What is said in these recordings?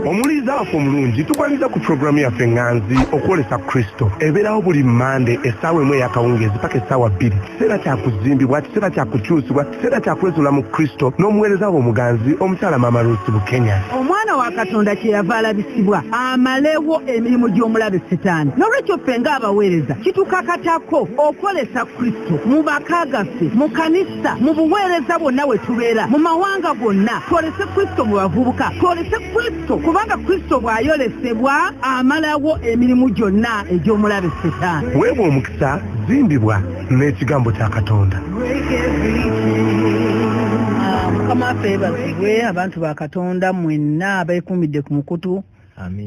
omulizaafo omulungi tukwaniza ku pulogulaamu yaffe nganzi okwolesa kristo ebeerawo buli mande essaawa emu eyakawungeezi paka essaawa bbiri kiseera kyakuzimbibwa kiseera kyakukyusibwa kiseera kyakwezula mu kristo n'omuweereza wo omuganzi omukyala maama rusi bukenya omwana wa katonda kyeyava alabisibwa amalewo emirimu gy'omulabe sitaani nolwekyo ffe ng'abaweereza kitukakatako okwolesa kristo mu maka gaffe mu kanisa Ekisa mu buweereza bwonna we tubeera mu mawanga gonna twolese Kristo mu bavubuka twolese Kristo kubanga Kristo bw'ayolesebwa amalawo emirimu gyonna egy'omulabe setaani. Weebwa omukisa zimbibwa n'ekigambo kya Katonda. Mukama waffe yeebazibwe abantu ba Katonda mwenna abeekuumidde ku mukutu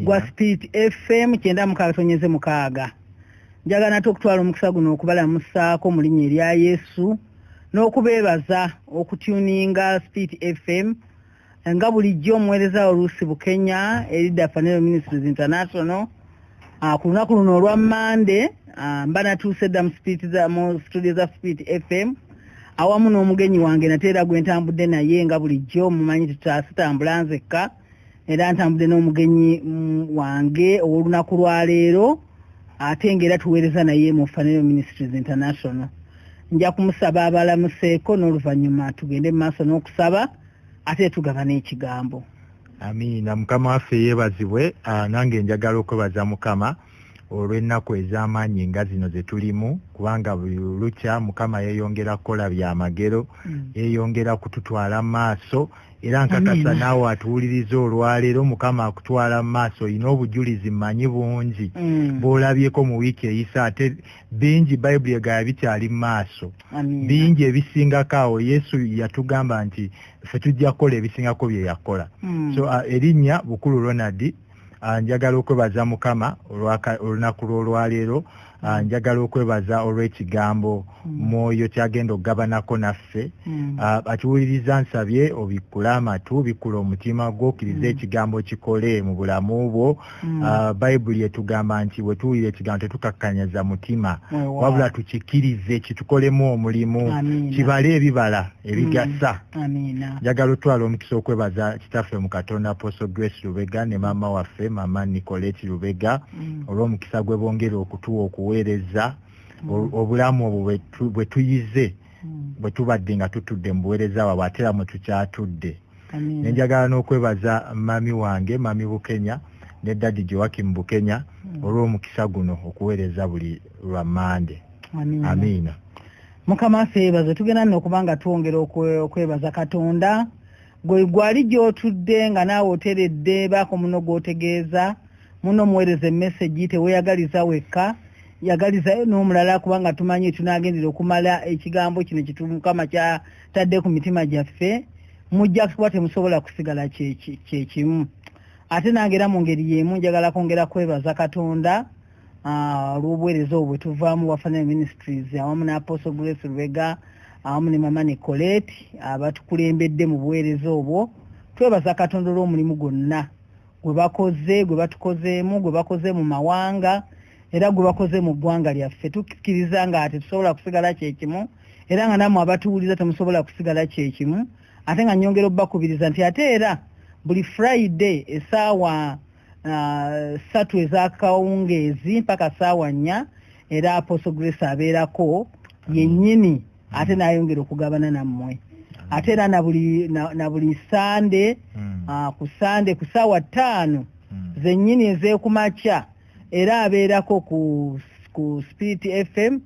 gwa Spirit FM kyenda mukaaga tonyeze mukaaga. njagala nate okutwala omukisa guno okubalamusaako mu linnya erya yesu n'okubeebaza okutuninga speed fm nga bulijjo omuweereza oluusi bukenya erida fanero ministries international ah, ku lunaku luno olwa mande ah, mba natuuse dda mu studio za speed fm awamu n'omugenyi wange nate era gwe ntambudde naye nga bulijjo mumanyi tutasitambula nzekka era ntambudde n'omugenyi mm, wange ow'olunaku lwa leero ate ng'era tuweereza naye mu fanero ministries international nja kumusaba abalamuseeko n'oluvannyuma tugende mu maaso n'okusaba ate tugaba n'ekigambo amiina mukama waffe yeebazibwe ah, nange njagala okwebaza mukama olw'ennaku ez'amaanyi nga zino ze tulimu kubanga buli lukya mukama yeeyongera kukola bya magero mm. yeeyongera kututwala mu maaso era nkakasa naawe atuwuliriza olwaleero mukama akutwala mu maaso olina obujulizi mmanyi bungi mm. bw'olabyeko mu wiiki eyisa ate bingi bayibuli egaya bikyali mu maaso bingi ebisingako awo yesu yatugamba nti ffe tujja kukola ebisingako bye yakola mm. so uh, erinnya bukulu ronald Ah, njagala okwebaza mukama olunaku lwolwaleero ah, mm. njagala okwebaza olw'ekigambo mm. mwoyo kyagenda okugabanako naffe mm. ah, akiwuliriza nsabye obikkule amatu bikkula omutima gwo okkiriza ekigambo kikole mu bulamu bwo bayibuli etugamba nti bwe tuwulira ekigambo tetukakkanyaza mutima wabula tukikkirize kitukolemu omulimu kibale ebibala ebigasa mm, njagala otwala omukisa okwebaza kitaffe mu katonda apostle grace lubega ne maama waffe maama nicoleti lubega mm. olw'omukisa gwe bongera okutuwa okuweereza mm. obulamu obwo bwe tuyize bwe tubadde nga tutudde mu buweereza bwabwe ate era mwe tukyatudde ne njagala n'okwebaza mami wange mami bukenya ne dadi joakim bukenya olw'omukisa guno okuweereza buli lwa mande amiina mukama affe yebaze tugenda nno okuba nga twongera okwebaza katonda gwe gwali gyotudde nga naawe oteredde baako muno gwotegeeza muno omuweereza emesegi teweyagaliza wekka yagalizayo n'omulala kubanga tumanyi tunagendera okumala ekigambo kino kitumukama kyatadde ku mitima gyaffe mujja kuba temusobola kusigala kyekimu ate nange era mu ngeri y'emu njagala kwongera kwebaza katonda ah, olw'obuweereza obwo bwetuvaamu wafanire ministries awamu n'aposo grace lubega awamu ne mama ne coleti abatukulembedde mu buweereza obwo twebaza katonda olw'omulimu gwonna gwe bakoze gwe batukozeemu gwe bakoze mu mawanga era gwe bakoze mu ggwanga lyaffe tukkiriza nga tetusobola kusigala kyekimu era nga namwe abatuwuliza temusobola kusigala kyekimu ate nga nyongera obubakubiriza nti ate era buli friday esaawa ssatu uh, ezakawungeezi mpaka saawa nnya era aposo grace abeerako yennyini ate nayongera okugabana nammwe ate era na buli sande hmm. uh, ku sande ku saawa ttaano hmm. zennyini ezekumakya era abeerako ku, ku spirit fm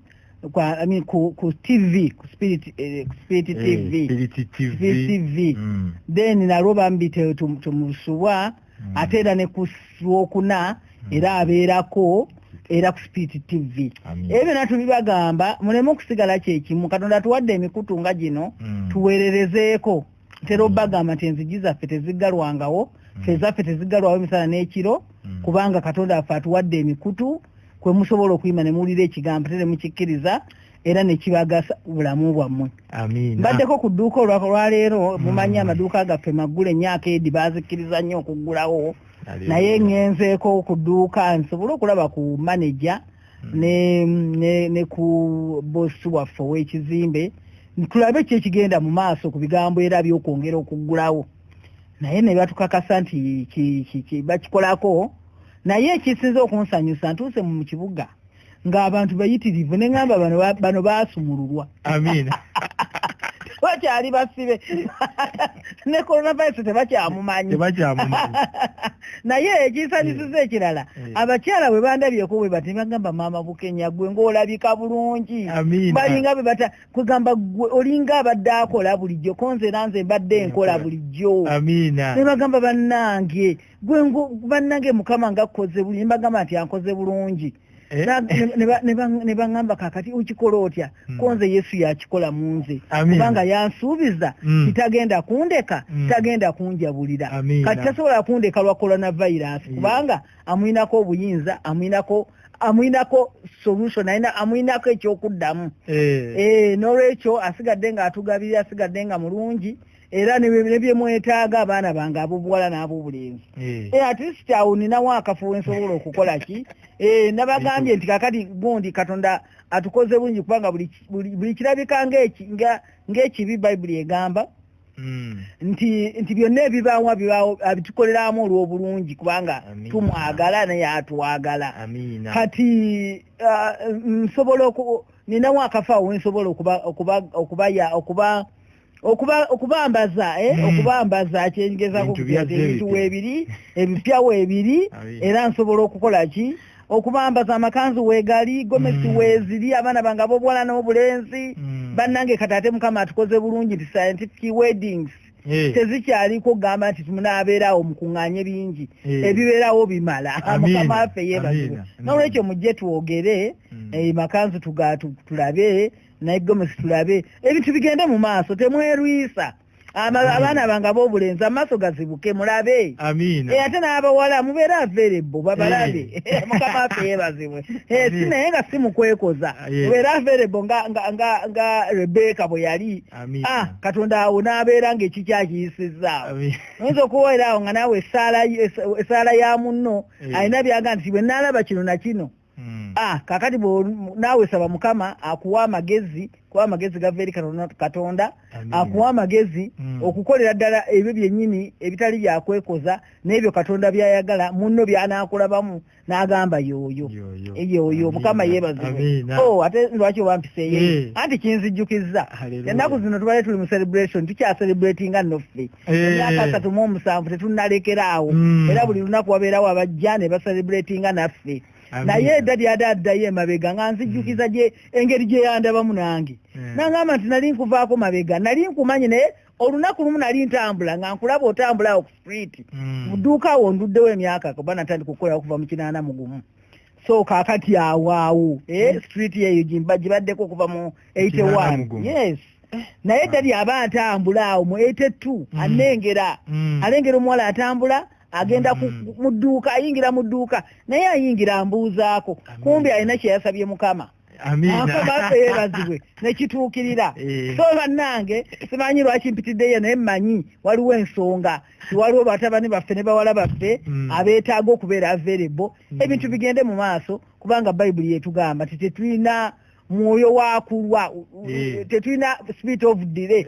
kwa I mean ku, ku TV ku spirit eh, ku spirit eh, TV spirit TV, spirit TV. Mm. then nalwo bambi tetumusubwa mm. ate era ne ku lwokuna mm. era abeerako era ku spiit tv ebyo byona tubibagamba muleme okusigala kyekimu katonda tuwadde emikutu nga gino mm. tuweererezeeko ntera obagamba nti enzigi zaffe teziggalwangawo fe zaffe teziggalwawo emisana n'ekiro kubanga katonda affe atuwadde emikutu kwe musobola okuyima ne muwulira ekigambo tere mukikkiriza era nekibagasa bulamu bwammwe mbaddeko ku dduuka olwaleero mm. mumanyi amaduuka gaffe maggula emyaka edi bazikkiriza nnyo okuggulawo naye ngenzeeko ku dduuka nsobole okulaba ku maneja mm. ne ku bosi waffe ow'ekizimbe tulabe ki ekigenda mu maaso ku bigambo era byokwongera okuggulawo naye ne batukakasa nti bakikolako naye ekisinza okunsanyusa ntuuse mu kibuga ng'abantu bayitirivu ne ŋamba bano baasumululwa amiina bakyali basibe ne coronavirus tebakyamumanyi naye ekisanyusiza eh. ekirala eh. abakyala bwe bandabyeko bwe bati bagamba maama bukenya gwe ng'olabika bulungi balinga bwe bata kwegamba gwe olinga abadde akola bulijjo konzera nze mbadde enkola bulijjo ne bagamba bannange gwe bannange mukama nga akkoze bulungi mbagamba nti ankoze bulungi Eh? ne baŋamba kakati okikola otya hmm. ko nze yesu yakikola mu nze kubanga yansuubiza hmm. titagenda kundeka hmm. tagenda kunjabulira kati tasobola kundeka lwa coronavirus kubanga amuyinako obuyinza amuyinako amuyinako solution ayina amuyinako ekyokuddamu eh. Eh, nolwekyo asigadde nga atugabirira asigadde nga mulungi era nebyemwetaaga abaana bange abobuwala n'abobulenzi eh. eh, at least awo ninawo akafo wensobola okukola ki eh, nabagambye nti kakati gundi katonda atukoze bungi kubanga buli kirabika ng'ekibi bayibuli egamba Mm. nti nti byonna ebibaawo bibaawo abitukoleramu olw'obulungi kubanga tumwagala naye atwagala kati uh, nsobola ninawo akafa wensobola okuba okuba okuba okuba okubambaza eh hmm. okubambaza akyengeza ku bintu webiri ebipya webiri era nsobola okukola ki okubambaza amakanzu wegali gomesi hmm. weziri abana banga bobwala no bulenzi hmm. banange katate mukama atukoze bulungi ti scientific weddings eh. tezikyali ko gamba nti tumuna abera o mukunganye bingi eh. ebibera o bimala mukama afe yeba na ulecho mujje tuogere e eh, makanzu tugatu tulabe naye gomesi tulabe ebintu bigende mu maaso temwerwisa abaana bange abobulenzi amaaso gazibuke mulabe e, ate n'abawala mubeere averebbo babalabe eh. mukama afe yebazibwe eh, si naye nga si mukwekoza ah, mubeere averebbo nga rebeka bwe yali ah, katonda awo n'abeera ngaekikyakiyisizaawo oyinza okuwoeraawo nga naawe esaala ya munno eh. alina byaga nti bwe naalaba kino na kino Hmm. Ah, kakati naawe saba mukama akuwa amagezi kuba amagezi gava eri katonda akuwa amagezi hmm. okukolera ddala ebyo byennyini ebitali byakwekoza n'ebyo katonda byayagala munno byanakulabamu n'agamba yooyo yooyo mukama yeebazibwe oh, ate lwaki oba mpiseeyo eh. anti kinzijjukizza ennaku zino tubale tuli mu celebration tukyacelebratinga noffe emyaka eh. asatu mu omusanvu tetunnalekera awo hmm. era buli lunaku wabeerawo abajja ne baselebratinga naffe naye edda lyade addayo emabega nga nzijjukiza hmm. gye engeri gye yandabamu nange eh. nangamba nti nali nkuvaako mabega nali nkumanyi naye olunaku lumu nali ntambula nga nkulaba otambula awo ku street hmm. mu dduuka awo nduddewo emyaka kuba natandika okukola okuva mu kinaana mugumu so kakati awaawo eh, hmm. street eyo gibaddeko okuva mu 81 yes eh. naye tali aba atambula awo mu 82 hmm. anengera hmm. alengera omuwala atambula agenda mu dduuka ayingira mu dduuka naye ayingira ambuuzaako kumbi alina kyeyasabye mukama akomafe yebazibwe nekituukirira eh. so bannange simanyi lwaki mpitiddeyo naye mmanyi waliwo ensonga tiwaliwo batabani baffe ne bawala baffe hmm. abeetaaga okubeera available hmm. ebintu bigende mu maaso kubanga bayibuli yetugamba titetulina mwoyo wakulwa Eh, tetulina speed of delay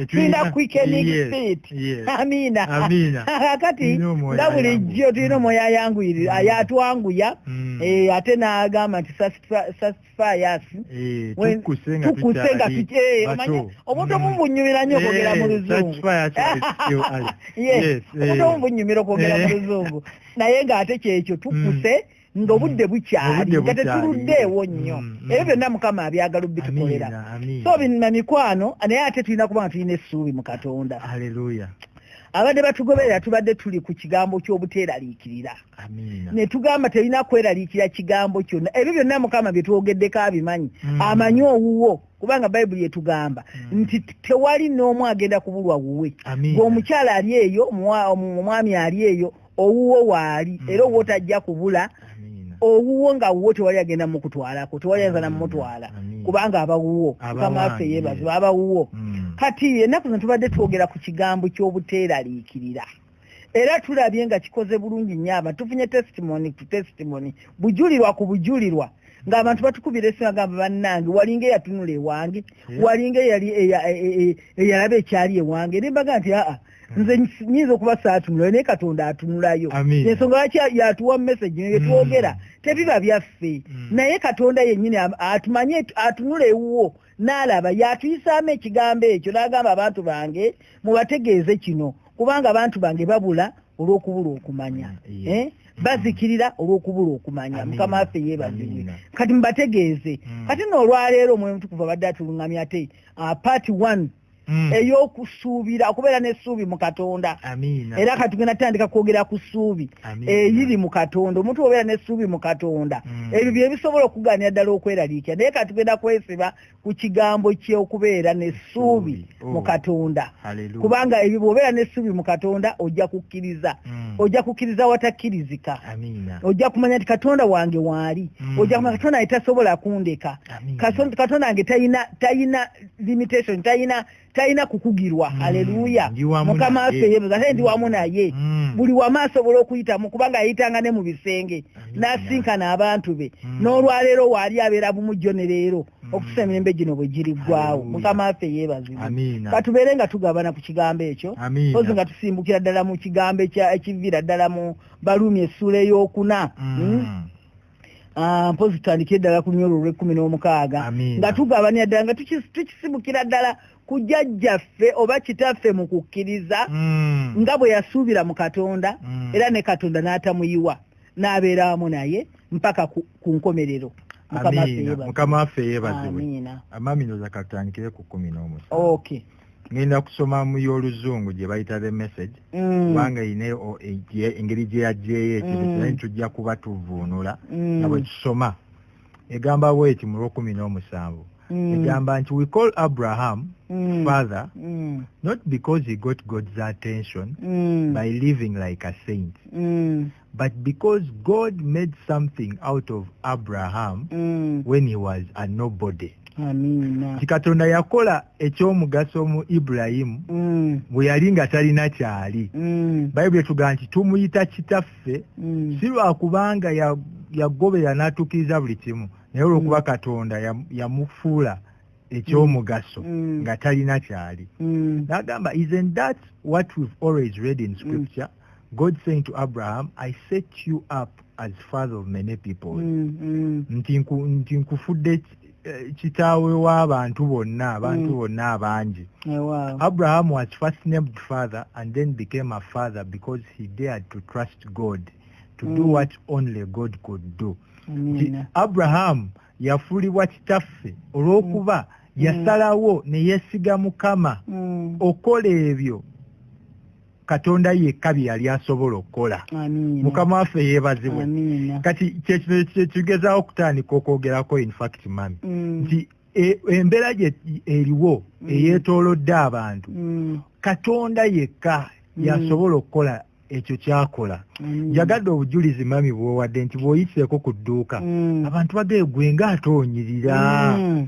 tulina quickening speed amiina kakati nga bulijjo tulina omwoyo mm. ayanguyirira mm. yatwanguya mm. eh, ate n'agamba nti sasifayasi eh, tukuse nga tukimanyi omuntu omu bunyumira nnyo okwogera mu luzungu omuntu omu bunyumira okwogera mu luzungu naye ng'ate kyekyo tukuse ng'obudde mm. bukyali nga tetuluddeewo nnyo mm, mm. ebyo byonna mukama abyagala obitukolera so binna mikwano naye ate tulina kuba nga tulina essuubi mu katonda abadde batugoberera tubadde tuli ku kigambo ky'obuteeraliikirira ne tugamba terina kweraliikira kigambo kyonna ebyo byonna mukama bye twogeddeko abimanyi amanyi owuwo kubanga bayibuli etugamba hmm. nti tewali n'omu agenda kubulwa wuwe omukyala ali eyo omwami ali eyo owuwo waali mm. era owuwo tajja kubula owuwo nga wuwo tewali agenda mukutwalako tewali ayinza namumutwala kubanga abawuwo mukamafe yebaziba abawuwo mm. kati ennaku zino tubadde twogera ku kigambo ky'obuteeraliikirira era tulabye nga kikoze bulungi nnyo aba tufunye testimony to testimony bujulirwa ku bujulirwa ng'abantu batukubira esimu agamba bannange walinga eyatunula ewange walinga eyalaba ekyali ewange nembaga nti aa Hmm. nze nyinza okuba saatunulayo naye katonda atunulayo ensonga lwaki yatuwa mumesagi ne byetwogera hmm. tebiba byaffe hmm. naye katonda yennyini atumanye atunula ewuwo n'alaba yatuyisaamu ekigambo ekyo n'agamba abantu bange mubategeeze kino kubanga abantu bange babula olw'okubula okumanya eh? bazikirira olw'okubula okumanya mukama waffe yeebazibwe kati mubategeeze kati noolwaleero omwoyo mutukuvu abadde atulungamya ate ah, part one mm. eyokusuubira okubeera nesuubi mu katonda era kati genda tandika kwogera ku suubi eyiri mu katonda omuntu obeera nesuubi mu katonda mm. ebyo byebisobola okuganira ddala okweraliikira naye kati genda kwesiba ku kigambo kyokubeera nesuubi oh. mu katonda kubanga ebyo bwobeera nesuubi mu katonda ojja kukkiriza mm. ojja kukkiriza watakkirizika ojja kumanya nti katonda wange waali mm. ojja kumanya katonda nge tasobola kundeka katonda nge tayina limitation tayina tayina kukugirwa mm, haleluya mukama affe yebuza ate ndi wamu naye mm. buli wamu asobola okuyitamu kubanga ayitanga ne mu bisenge n'asinkana abantu be mm. n'olwaleero waali abeera bumu jjo ne leero mm. okusa emirembe gino bwe giriggwawo mukama affe yeebazibwa katubeere nga tugabana ku kigambo ekyo ozi nga tusimbukira ddala mu kigambo ekiviira ddala mu baluumi essuula ey'okuna mm. mm. Ah, mpozi tutandikire ddala ku lunyolo olw'ekkumi n'omukaaga nga tugabanira ddala nga tukisibukira ddala ku jjajjaffe oba kitaffe mu kukkiriza hmm. nga bwe yasuubira mu katonda hmm. era ne katonda n'atamuyiwa n'abeera wamu naye mpaka ku nkomerero mukama waffe yeebazibwe amaminoza katandikire ku kumi n'omusa ngenda kusoma mu y'oluzungu gye bayita the message mm. kubanga ine engeri gye yagyeyo ekintu mm. kinaye tujja kuba tuvuunula nga bwe tusoma egamba bweti mu lwokumi n'omusanvu Mm. egamba nti we call abraham mm. father mm. not because he got god's attention mm. by living like a saint mm. but because god made something out of abraham mm. when he was a nobody nti katonda yakola ekyomugaso mu ibulayimu mm. bwe yali nga talina kyali mm. bayibuli etugaa nti tumuyita kitaffe mm. si lwakubanga yagobera n'atuukiriza buli kimu naye olwokuba mm. katonda yamufuula ya ekyomugaso mm. mm. nga talina kyali mm. nagamba isn't that what we've always read in mm. scripture mm. God saying to Abraham, I set you up as father of many people. Mm, mm. Nti nku, nti nkufude eh, kitawe wa bantu bonna, bantu mm. bonna abanji. Yeah, oh, wow. Abraham was first named father and then became a father because he dared to trust God to mm. do what only God could do. Amen. Abraham yafulibwa kitaffe olw'okuba mm. yasalawo ne yesiga Mukama mm. okola ebyo katonda yekka bye yali asobola okukola mukama waffe yeebazibwe kati kyekino kyekigezawo okutandika okwogerako infact mami mm. nti e, embeera gye eriwo mm. eyeetoolodde abantu mm. katonda yekka yasobola okukola ekyo kyakola njagadde mm. obujulizi mami bwowadde nti bwoyiseeko ku dduuka mm. abantu bageegwe nga ate onyirira mm.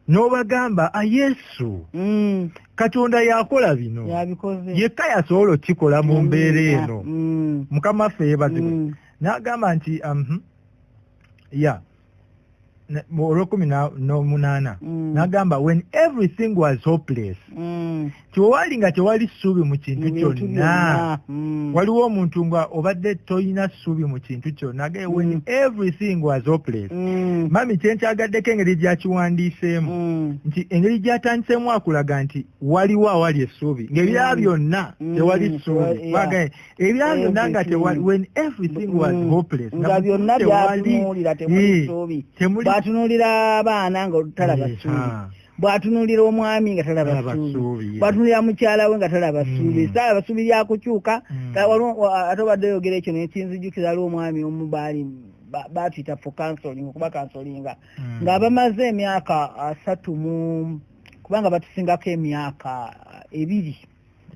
n'obagamba a yesu mm. katonda yakola bino yekka yasobola okukikola mu mbeera eno mm. mukama ffe yebazibwe mm. n'agamba nti um, ya olwekumi n'omunaana n'agamba when everything was hopeless kyewali nga tewali ssuubi mu kintu kyonna hmm. waliwo omuntu nga obadde tolina ssuubi mu kintu kyonna ge when hmm. everything was hopeless hmm. mami kyenkyagaddeko engeri gyakiwandiiseemu nti engeri gyatandiseemu akulaga nti waliwo awali essuubi ngaebirala byonna tewali ssuubi eh, ebirala byonna nga tewali when everything was hopeless nga byonna byatunuulira temuli ssuubi batunuulira abaana nga olutalaba eh, ssuubi bwatunulira omwami nga talaba suubi bwatunulira mukyala we nga talaba hmm. suubi sala basuubi lyakukyuka hmm. ate obadde oyogera ekyo naye kinzijukira ali omwami omu baali batuyita for counseling okuba counselinga hmm. nga bamaze emyaka asatu mu kubanga batusingako emyaka ebiri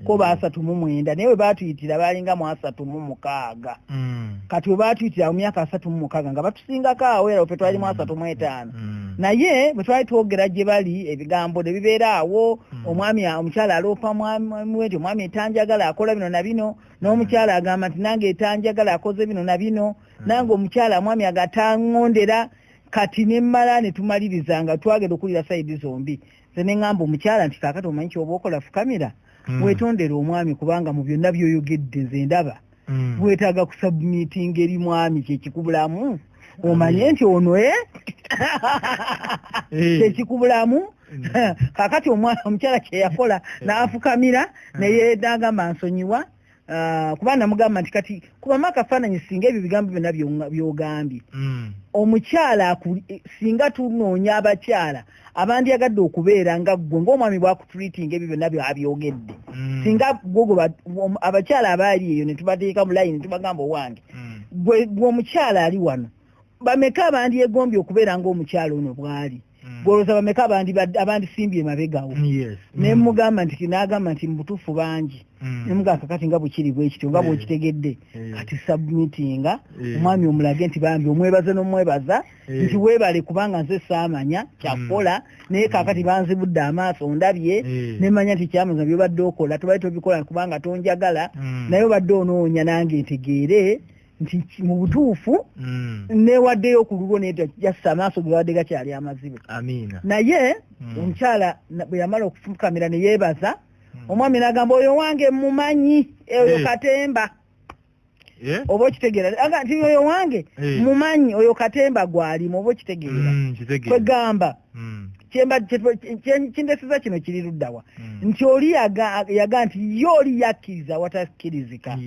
ko basatu mu mwenda naye bwe batuyitira baalinga mu asatu mu mukaaga mm. kati bwe batuyitira mu myaka asatu mu mukaaga nga batusingako awo era fe twali mu asatu mu etaano mm. mm. naye bwe twali twogera gye bali ebigambo ne bibeera awo mm. omwami omukyala aloopa mwami wenti omwami etanjagala akola bino na bino n'omukyala agamba nti nange etanjagala akoze bino na bino mm. nange omukyala omwami agatanngondera kati ne mmala ne tumaliriza nga twagenda okuwulira sayidi zombi nze ne ŋŋamba omukyala nti kaakati omanyi kyoba okola fukamira mm. wetondere omwami kubanga mu byonna byoyogedde nze ndaba mm. wetaaga kusabumitinga eri mwami kyekikubulamu omanye nti ono e kyekikubulamu kaakati omukyala kyeyakola n'afukamira naye nagamba nsonyiwa Ah, kuba namugamba nti kati kubamu akafaananyi singa ebyo bigambo byonna byogambye hmm. omukyala eh, singa tunoonya abakyala abandyagadde okubeera nga ggwe ngaomwami bwakutreatinga ebyo byonna byabyogedde hmm. singa gogo abakyala abaali eyo netubateeka mu layini netubagamba owange hmm. gwe omukyala ali wano bameka abandyegombye okubeera ngaomukyala ono bwali Mm. gwolowooza bameka abandisimbye emabegawo mm, nemugamba mm. nti nagamba nti mubutuufu bangi nemugamba kakati nga bukiri bwekityo nga bwekitegedde kati submitinga omwami omulage nti bambi omwebaze nomwebaza nti webale kubanga nze saamanya kyakukola naye kakati banzibudde amaaso ndabye nemanya nti kyamaza byobadde okola tobali tobikola kubanga tonjagala naye obadde onoonya nange ntegeere nti mu butuufu mm. newaddeyo okululwo neda jasa amaaso gebabadde gakyali amazibe naye mm. omukyala bwe yamala okufukamira ne yeebaza mm. omwami nagamba oyo wange mumanyi eh, oyo eh. katemba eh? oba okitegeera nti oyo wange mumanyi oyo katemba gwalimu oba okitegeera kwegamba kindesiza kino kiri luddawa nti oli yaga nti ye oli yakkiriza watakkirizika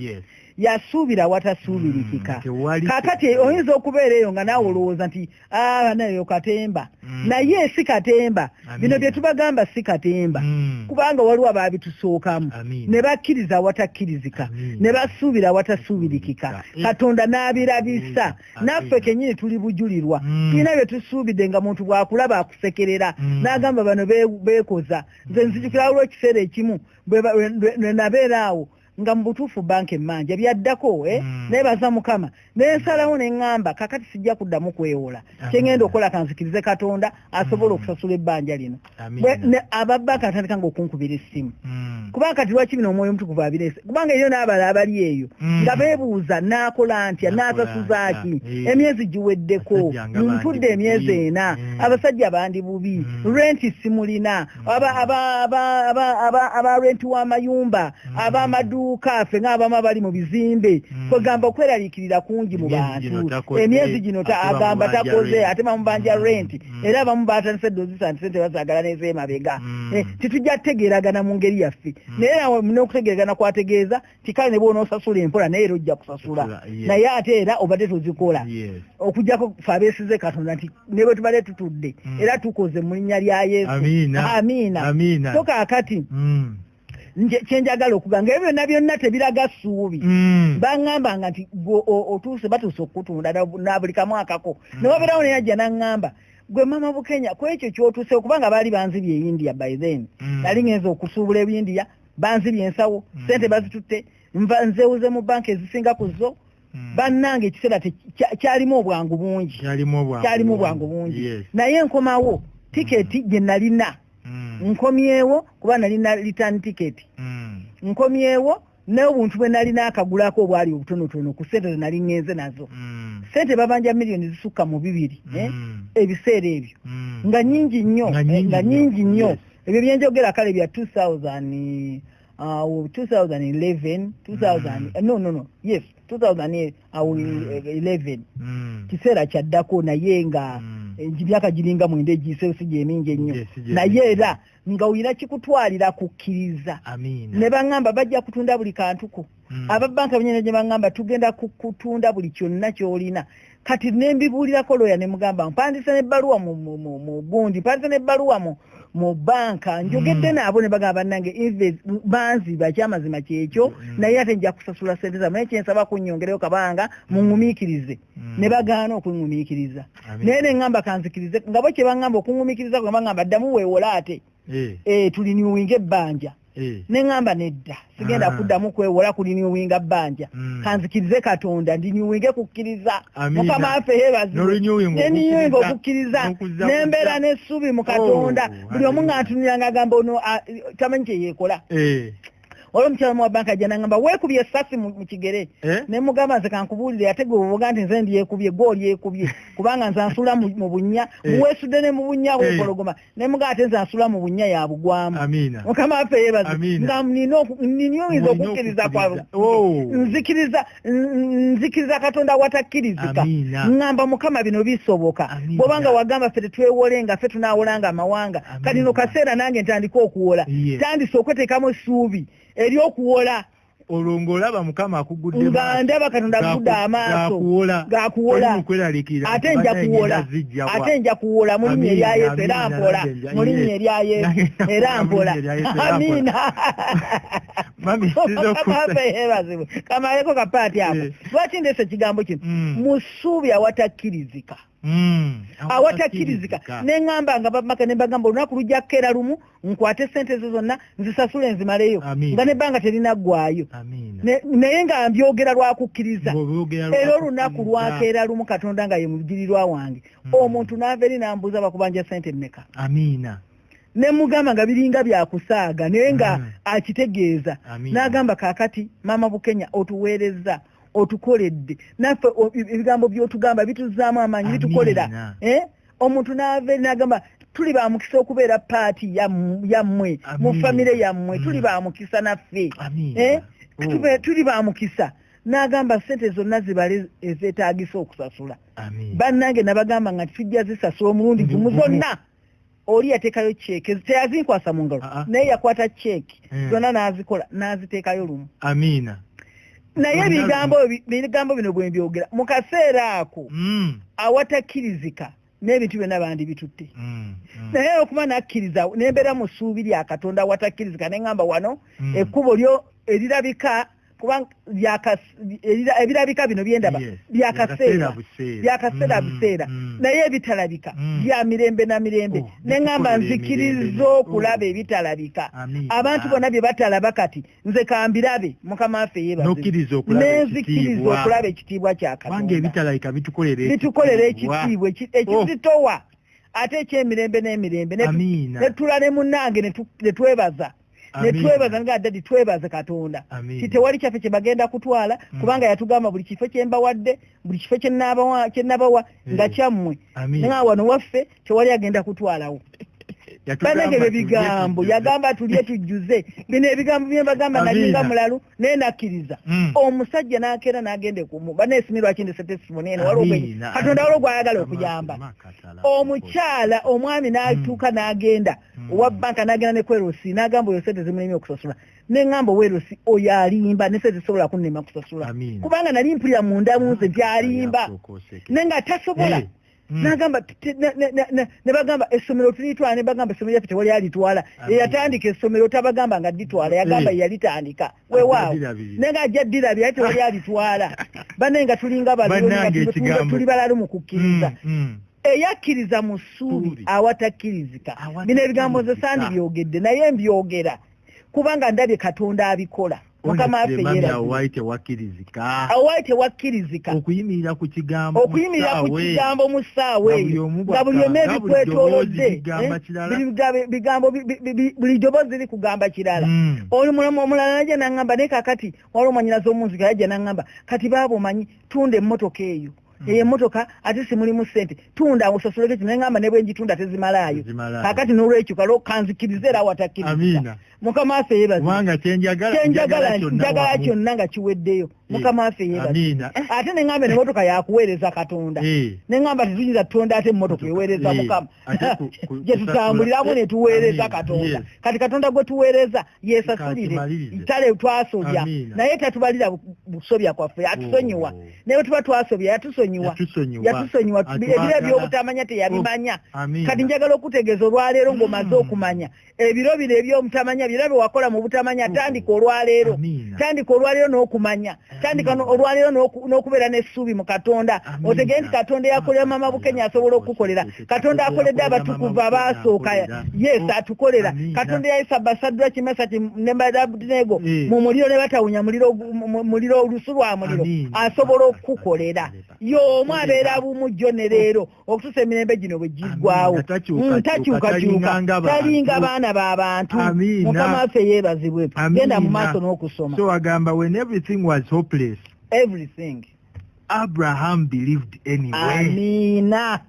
yasuubira awatasuubirikika hmm, kakati oyinza okubeera eyo nga naawe olowooza nti ah, nayo katemba hmm. naye si katemba bino bye tubagamba si katemba hmm. kubanga waliwo abaabitusookamu ne bakkiriza awatakkirizika ne basuubira awatasuubirikika katonda n'abirabisa naffe kenyini tuli bujulirwa tulina bye tusuubidde nga muntu bwakulaba akusekerera n'agamba bano beekoza nze nzijukirawo lwekiseera ekimu bwe nabeera awo nga mu butuufu banka emmanja byaddako eh? mm. naye baza mukama nensalawo neŋŋamba kakati sijja kuddamu kwewola kyengenda okukola kanzikirize katonda asobola mm. okusasula ebbanja lino ababaka atandika nga okunkubira essimu mm. kubanga kati lwaki bino omwoyo omutukuvu abirese kubanga eyo n'abala abali eyo mm. nga beebuuza naakola ntya naasasuzaaki eh. emyezi giweddeko ntudde emyezi ena eh. abasajja bandi bubi mm. renti simulina abarenti w'amayumba mm. ab'amaduuka ffe ng'abamu abali mu bizimbe mm. kwegamba okweraliikirira kungi mu bantu emyezi gino agamba takoze ate bamubanja mm. renti era abamu batandise dozisa nti sente bazagala nezeemabega eh, titujja kutegeeragana mu ngeri yaffe naye n'okutegeeragana kwategeeza tikale ne bwonosasula empola naye era ojja kusasula naye ate era obadde tozikola okujjako fe abeesize katonda nti ne bwe tubadde tutudde mm. era tukoze mu linnya lya yesu amiina so kaakati mm. kyenjagala okuga nga ebyo byonna byonna tebiraga ssuubi mm. baŋŋamba nga nti gwe otuuse batuuse okukutunda nabuli kamwakako ne wabeerawo neyajja naŋŋamba gwe mama bukenya kwekyo kyotusewo kubanga baali banzibye e india by then mm. nali ngenza okusuubula ebindia banzibye ensawo mm. sente bazitutte nva nzewuze mu banka ezisinga ku zo mm. bannange ekiseera kyalimu obwangu bungi kyalimu obwangu bungi naye nkomawo mm. tiketi gye nalina nkomyewo kuba nalina return tiketi nkomyewo n'obuntu bwe nalina akagulako obwali obutonotono ku sente zenali ngenze nazo mm. sente babanja miliyoni zisukka mu bibiri eh, mm. ebiseera ebyo mm. nga nyingi nnyo nga nyingi nnyo eh, ebyo byenjogera kale bya 2000 awo 2011 2000 no no no yes 2011 mm. mm. kiseera kyaddako naye nga mm. eh, emyaka giringa mwenda egiseosi gyemingi ennyo naye era nga oyina kikutwalira kukkiriza ne baŋŋamba bajja kutunda buli kantuko Hmm. ababanka benyina gye baŋŋamba tugenda kutunda buli kyonna ky'olina kati ne mbibuulirako looya ne mugamba mpandise n'ebbaluwa mu gundi mpandise n'ebbaluwa mu mu banka hmm. njogedde naabo ne bagamba bannange banzi bakyamazima kyekyo hmm. naye ate nja kusasula sente zamu naye kyensaba kunnyongereyo kabanga muŋŋumiikirize ne bagaana okuŋŋumiikiriza naye ne ŋŋamba kanzikirize nga bo kye baŋŋamba okuŋŋumiikiriza kwe baŋŋamba ddamu weewola ate eh. eh, tuliniwinga ebbanja eh. ne ŋŋamba nedda sigenda ah. kuddamu kwewola kuliniwinga bbanja hmm. kanzikirize katonda ndiniwinge kukkiriza mukama waffe yeebazibweniniwinga okukkiriza nembeera n'essuubi mu katonda oh, buli omu ng'antuniranga agamba ono ah, tamanyi kye yeekola eh. olwo omukyala mu wabanka ajja nangamba weekubye esasi mu kigere eh? ne mugamba nze kankubuulire ate gwe obuga nti nze ndyekubye gwe olyekubye kubanga nze nsuula mu bunnya eh. muweesudde ne mu bunnya eh. wepologoma ne muga ate nze asula mu bunnya ya bugwamu mukama waffe yebaze nga nina oyinza okukkiriza kwa oh. nzikiriza nzikiriza katonda watakkirizika ŋŋamba mukama bino bisoboka bwobanga wagamba ffe tetwewolenga ffe tunaawolanga amawanga kati no kaseera nange ntandika okuwola tandise okweteekamu essuubi ery'okuwola olwo ng'olaba mukama akugudde nga ndaba katonda agudde amaaso gakuwola ate nja kuwola ate nja kuwola mu linnya erya yesu era mpola mu linnya erya yesu era mpola amiina yeebazibwe kamaleko kapaati ako eh. lwaki ndeesa ekigambo kino mm. mu ssuubi awatakkirizika Hmm, awatakirizika neŋamba nga bamaka nembagamba olunaku lujja kukeera lumu nkwate sente ezo zonna nzisasule nzimaleyo nga nebbanga terinaggwayo naye nga mbyogera lwakukkiriza era olunaku lwakeera lumu katonda nga ye mujirirwa wange hmm. omuntu naava eri nambuuza bakubanja sente mmeka nemugamba nga biringa byakusaaga naye nga hmm. akitegeeza nagamba kakati maama bukenya otuweerezza otukoledde naffe ebigambo byotugamba bituzaamu amaanyi bitukolera eh? omuntu naava nagamba tuli ba mukisa okubeera paati yammwe mu famire yammwe mm. tuli ba mukisa naffe eh? oh. tuli ba mukisa n'agamba ssente zonna zibale ezeetaagisa okusasula bannange nabagamba nga tujja zisasula omulundi gumu zonna oli yatekayo cheke teyazinkwasa mu ngalo ah, ah. naye yakwata cheke eh. zonna n'azikola n'aziteekayo lumu amiina naye ebigambo ebigambo bino bwe mbyogera mu kaseera ako hmm. awatakkirizika n'ebintu byonna bandi bitutte hmm, hmm. naye okuba nakkiriza nembeera mu ssuubi lya katonda awatakkirizika ne ŋamba wano ekkubo lyo erirabika kubanga ebirabika bino byendaba byakaseera byakaseera mm, buseera mm. naye ebitalabika mm. bya mirembe na mirembe oh, ne ŋŋamba nzikiriza oh. okulaba ebitalabika abantu bona bye batalaba kati nze kambirabe mukama waffe yebanzikiriza okulaba ekitiibwa kya katonda bitukolera ekitiibwa ekizitowa oh. ate ekyemirembe n'emirembe netula ne munnange ne twebaza netwebaza nga dadi twebaze katonda ti tewali kyaffe kyebagenda kutwala mm. kubanga yatugamba buli kifo kyembawadde buli kifo kyenabawa nga kyammwe nga wano waffe tewali agenda kutwalawo banange bye bigambo yagamba tulye tujjuze bino ebigambo byembagamba nalinga mulalu naye nakkiriza hmm. omusajja nakeera nagende kumu banesimye lwaki ndese tesimoni eno katonda waliwo gwayagala okuyamba omukyala omwami hmm. natuuka nagenda hmm. owa banka nagenda ne kwerosi nagamba oyo sente zimulemye okusasula neŋamba owerosi oyo alimba ne sente zisobola kunema kusasula kubanga nali mpulira munda munze nti alimba naye nga tasobola eh. Mm. nagamba nebagamba essomero tulitwala nebagamba essomero yaffe tewali alitwala eyatandika essomero tabagamba nga ditwala yagamba eh. yalitandika wewaawo naye nga ajja ddirabye aye tewali alitwala bane nga tulinga batuli balalu mu kukkiriza mm, mm. eyakkiriza mu ssuubi awatakkirizika bino ebigambo nze sandi byogedde naye mbyogera kubanga ndabye katonda abikola mukama waffe yeawaali tewakkirizika okuyimirira ku kigambo mu ssaawa eyo nga buli omu ebikwetolodde buli doboozi ri kugamba kirala hmm. oyo mulamu omulala naja naŋŋamba naye kakati waliwo mwanyinazi omunzika yaja naŋŋamba kati baaba omanyi tunda emmotoka eyo Mm. eyo emotoka ate simulimu sente tunda awo osasuleko kino nengamba nebwenjitunda tezimalaayo kakati nolwekyo kale okanzikiriza era watakkiriza mukama waffe yebazenjagala kyonna nga kiweddeyo eh. mukama waffe yebaze eh, ate nengamba emotoka yakuweereza katonda eh. nengamba tetuyinza tutonda ate emotoka eweereza mukama gyetutambuliramu netuweereza katonda kati katonda gwe tuweereza yesasulire tale twasobya naye tatubalira busobya kwaffe yatusonyiwa oh. naye tuba twasobya yatusonyiwa yatusonyiwa ebiro ebyobutamanya teyabimanya oh, kati njagala okutegeeza olwaleero ngaomaze mm. okumanya ebiro bino ebyobutamanya byona byewakola mu butamanya mm. tandika olwaleero tandika olwaleero n'okumanya tandika olwaleero n'okubeera n'essuubi mu katonda otegere nti katonda eyakolera mama bukenya asobola okukukolera katonda akoledde abatukuvu abaasooka yes oh, atukolera katonda yayisa basaddwa kimasati nembadabnego eh. mu muliro ne batawunya muliro olusu lwa muliro asobola okukukolera y'omu abeera bumu jjo ne leero okutusa emirembe gino bwe giggwawo mm, takyukakyuka talinga baana ba bantu mukama waffe yeebazibwe genda mu maaso n'okusoma so agamba when everything was hopeless everything abraham believed anyway amiina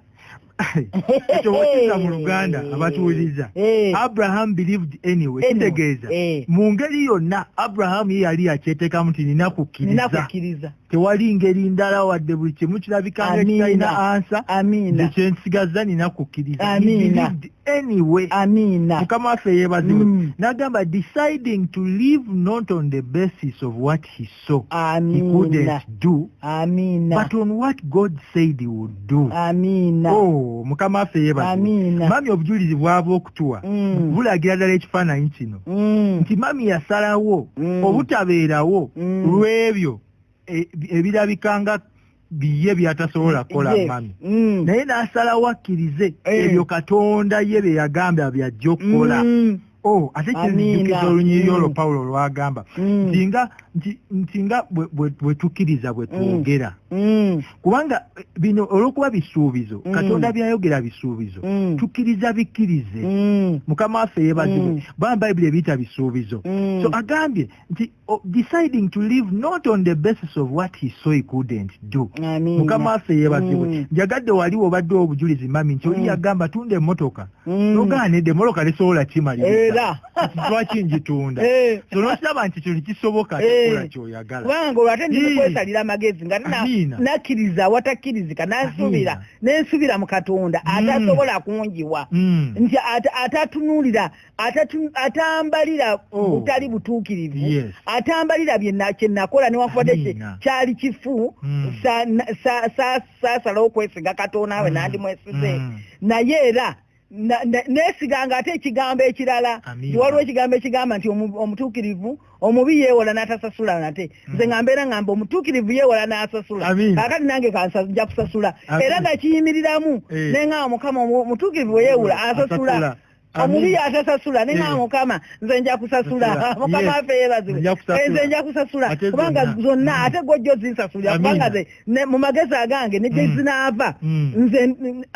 ekyo wokiza mu luganda abatuwuliriza eh. abraham believed anyway kitegeeza eh. mu ngeri yonna abraham ye yali yakyeteekamu nti nina kukkiriza tewali ngeri ndala wadde buli kimu kirabika nga kitalina ansa amiina ekyo nsigaza nina kukkiriza amiina anyway amiina mukama waffe yeebazibwe mm. n'agamba deciding to live not on the basis of what he saw amiina he couldn't do amiina but on what god said he would do amina oh mukama waffe yebaza amina mami obujulizi bwava okutuwa mm. bulagira ddala ekifaananyi kino mm. nti mami yasalawo mm. obutabeerawo mm. lw'ebyo e, ebirabika nga biye byatasobola kukola mami mm. naye n'asalawo akkirize eh. ebyo katonda ye bye yagamba byajja okukola mm. Oh, ate kyenzijukisa olunyiriri olwo mm. pawulo lwagamba mm. nti nga bwe tukkiriza bwe twogera mm. kubanga eh, bino olwokuba bisuubizo katonda byayogera bisuubizo tukkiriza bikkirize mukama waffe yebazibwe baa bayibuli ebiyita bisuubizo so agambye nti oh, deciding to live not on the basis of what he saw he couldn't do mukama waffe yebazibwe mm. njagadde wali wobadde obujulizi mami nti oli mm. yagamba tunda emotoka mm. nogaanidde emotoka lisobola kimalira lwaki njitunda eh. so nokiraba nti kino kisoboka kikola eh. kyoyagala kubanga olwate ndikwesalira amagezi nga nakkiriza awatakkirizika nansuubira nensuubira mu katonda atasobola kunjiwa nti atatunuulira atambalira oh. butali butuukirivu yes. atambalira kyenakola newankubadde kyali kifu mm. saasalawo sa, kwesiga katonda we mm. nandimwesize mm. naye era nesiganga ate ekigambo ekirala waliwo ekigambo ekigamba nti omutuukirivu omubi yeewola n'atasasula nate hmm. nze nga mbeera ngamba omutuukirivu yeewola n'asasula kakati nange nja kusasula era nakiyimiriramu eh. nengamba mukama omutuukirivu weyeewola asasula omubi yatasasula naye eh. mukama nze nja kusasula mukama waffe yeebazibwe eh, nze nja kusasula kubanga zonna mm. ate gwojja ozinsasulira kubanga ze mu magezi agange ne gye mm. zinaava mm. nze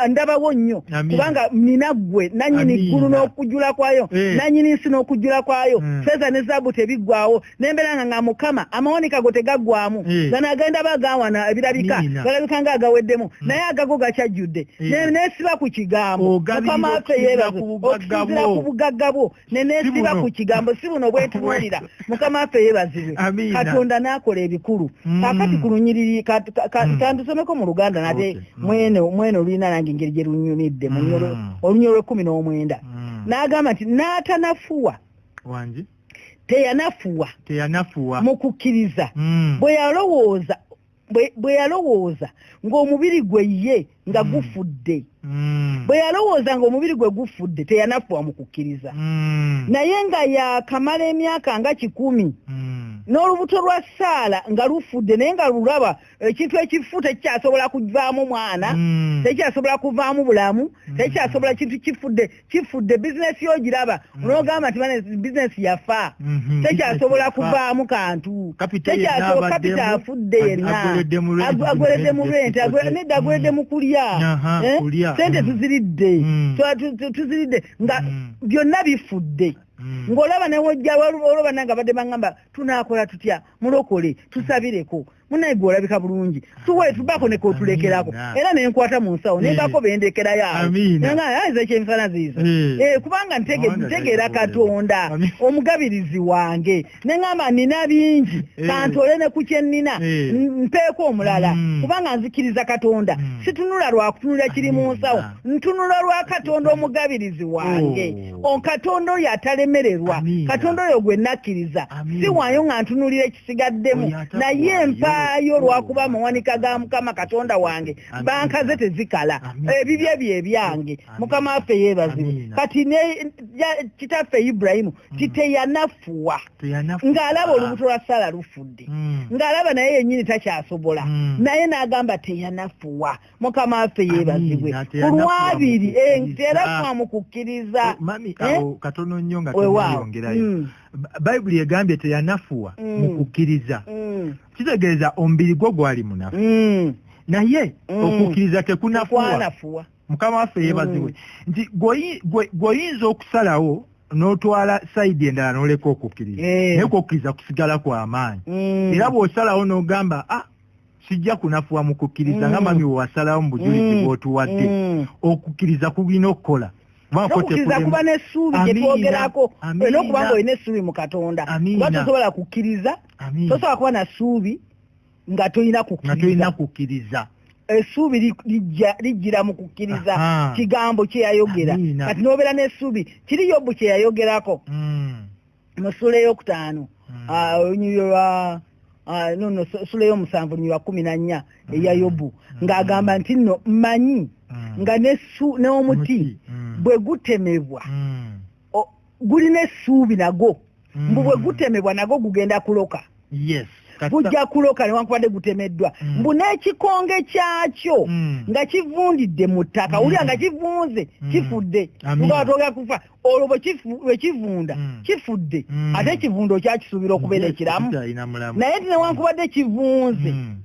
ndabawo nnyo kubanga nina ggwe nannyini ggulu n'okujula kwayo eh. nannyini nsi n'okujula kwayo feeza ne zaabu tebiggwawo nembera nga nga mukama amawanika go tegaggwamu eh. gano agenda ba gawana ebirabika galabika nga agaweddemu hmm. naye agago gakyajjudde eh. nesiba ku kigambo mukama affe yebaze okusinzira ku bugagga bwo nenesiba ku kigambo si buno bwetuwulira mukama affe yebazibwe katonda n'akola ebikulu hmm. kakati ku lunyiriri hmm. kandusomeko mu luganda nate mwene olulina nange engeri gye lunyumidde olunyolo lwekumi n'omwenda n'agamba nti n'atanafuwa teyanafuwa teyanafuwa mu kukkiriza mm. bwe yalowooza bwe yalowooza ng'omubiri gwe ye nga mm. gufudde mm. bwe yalowooza ng'omubiri gwe gufudde teyanafuwa mu kukkiriza mm. naye nga yakamala emyaka nga kikumi mm. n'olubuto lwa saala nga lufudde naye nga lulaba mm. ekintu ekifu tekikyasobola kuvaamu mwana hmm. tekikyasobola kuvaamu bulamu hmm. tekikyasobola kintu kifudde kifudde bizinesi yo giraba hmm. onogamba nti bane bizinesi yafa mhm. tekikyasobola kuvaamu kantu tekikyasobola kapita afudde yenna agweredde mu renti nedda agweredde mu kulya eh? sente tuziridde tuziridde nga byonna bifudde ng'olaba newojja olwoba nange abadde bangamba tunakola tutya mulokole tusabireko munaye gwe olabika bulungi tuwe tubako ne kotulekerako era ne nkwata mu nsawo ne bako eh. bendekera ya nga ayize kye mfana zizo eh. eh kubanga ntege ntegera katonda omugabirizi wange ne ngamba nina bingi eh. kantole ne kukye nina mpeko omulala mm. kubanga nzikiriza katonda mm. situnula lwa kutunula kiri mu nsawo ntunula lwa katonda omugabirizi wange oh. on katonda oyo atalemererwa katonda oyo gwe nakkiriza siwaayo nga ntunulira ekisigaddemu naye mpaayo olwakuba amawanika ga mukama katonda wange banka ze tezikala ebibye bye ebyange mukama waffe yeebazibwe kati ne kitaffe iburahimu mm. titeyanafuwa ng'alaba olubuto lwa sala lufudde mm. ng'alaba naye yennyini takyasobola mm. naye n'agamba teyanafuwa mukama waffe yeebazibwe ku lwabiri nti era twamukukkiriza katono nnyo nga teyongerayo mm. bayibuli egambye teyanafuwa mm. mu kukkiriza mm. kitegeeza omubiri gwo gwali munafu naye okukkiriza tekunafuwa mukama waffe yeebazibwe nti gweoyinza okusalawo n'otwala sayidi endala n'oleka okukkiriza eh. naye kukkiriza kusigala kwa maanyi era bw'osalawo n'ogamba ah, sijja kunafuwa mu kukkiriza nga mm. mami wewasalawo mu bujulizi mm. bwotuwadde mm. okukkiriza kulina okukola nokukkiriza kuba n'essuubi gye twogerako olina okuba nga olina essuubi mu katonda kuba tosobola kukkiriza tosobola kuba na ssuubi nga tolina kukkiriza essuubi lijjira mu kukkiriza kigambo kyeyayogera kati nobeera n'essuubi kiri yobbu kyeyayogerako mu sula eyokutaano hmm. ah, olunyiriro lwa ah, nono sula eyomusanvu lunyiriro lwa kumi na nnya hmm. eya yobu hmm. ng'agamba nti nno mmanyi nga n'omuti bwe gutemebwa gulina essuubi nagwo mbu bwe gutemebwa nagwo gugenda kuloka yes gujja kuloka newankubadde gutemeddwa mm. mbu n'ekikonge kyakyo mm. nga kivundidde mu ttaka mm. wulira nga kivunze mm. kifudde ubatogera kufa olwo bwekivunda mm. kifudde mm. ate ekivundo kyakisuubira okubeera ekiramu naye ti newankubadde kivunze mm.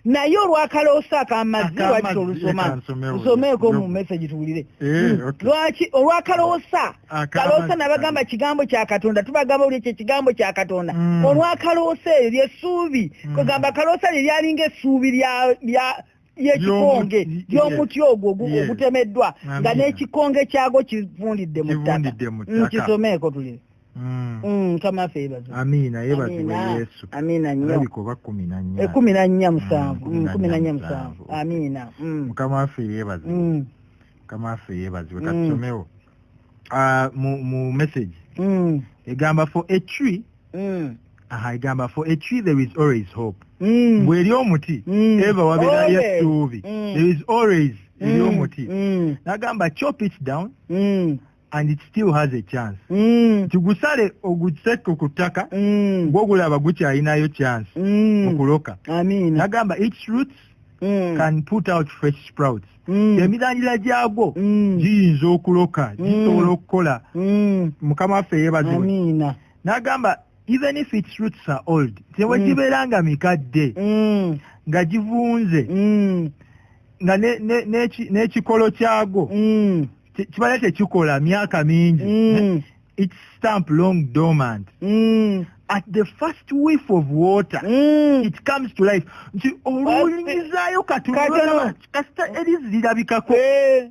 naye olwakaloosa akamazzi lwaki tolusoma nsomeeko mu message tuwulire eh, hmm. lwaki olwakaloosa kaloosa nabagamba kigambo kya katonda tubagamba oli ekyo ekigambo kya katonda hmm. olwakaloosa eyo lyessuubi hmm. kwegamba kaloosa lye lyalinga essuubi lya yekikonge yomuti ogwo ogutemeddwa nga nekikonge kyago kivundidde mu ttaka nkisomeeko tulire Mm. Mm, mukama waffe yebaze amiina yebazibwe yesu amiina nnyo alabika oba kumi na nnya ekumi eh, na nnya mm, musanvu kumi na nnya musanvu amiina mukama waffe yebaze mukama waffe yebazibwe katusomewo ah, mu message egamba for a tree aha egamba for a tree there is always hope bweri omuti eva wabeerayo essuubi there is always eri omuti nagamba chop it down and it still has a chance mm. nti gusale ogusekke ku ttaka mm. gwogulaba gukyalinayo chance mm. okuloka nagamba its roots mm. can put out fresh sprouts mm. emirandira gyagwo mm. giyinza okuloka mm. gisobola mm. okukola mm. mukama waffe yebaziwe nagamba even if its roots are old tewe mm. gibeera nga mikadde mm. nga givunze mm. nga n'ekikolo ne, ne, ne kyagwo mm. kibala tekikola myaka mingi mm. its stamp long dormant mm. at the first whiff of water mm. it comes to life nti olulingizayo katunulaa kasita erizi lirabikako eh,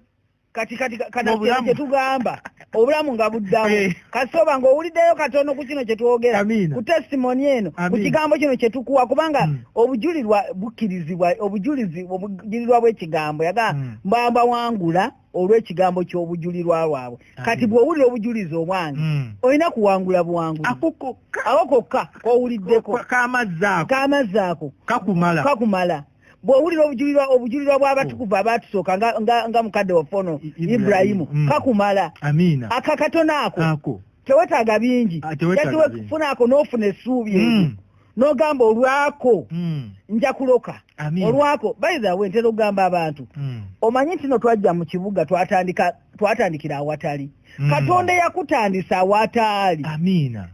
kati kati kanakyetugamba obulamu nga buddamu eh. kasita oba nga owuliddeyo katono ku kino kyetwogera ku testimoni eno ku kigambo kino kyetukuwa kubanga mm. obujulirwa bukkirizibwa obujulizi obujurirwa bw'ekigambo yagaa mm. mbambawangula mm. olw'ekigambo ky'obujulirwa bwabwe kati bw'owulira obujulizi obwange hmm. olina kuwangula buwangula awo kokka kowuliddeko kamazzi ako kakumala bw'owulira obujulirwa obujulirwa bw'abatukuvu abaatusooka nga mukadde waffe ono iburayimu hmm. kakumala akakatono ako tewetaaga bingi ah, just wefuna ako n'ofuna essuubi hmm. n'ogamba olwako hmm. nja kuloka olwako bayithawe ntera okugamba abantu hmm. omanyi nti no twajja mu kibuga twatandikira awatali hmm. katonda eyakutandisa awataali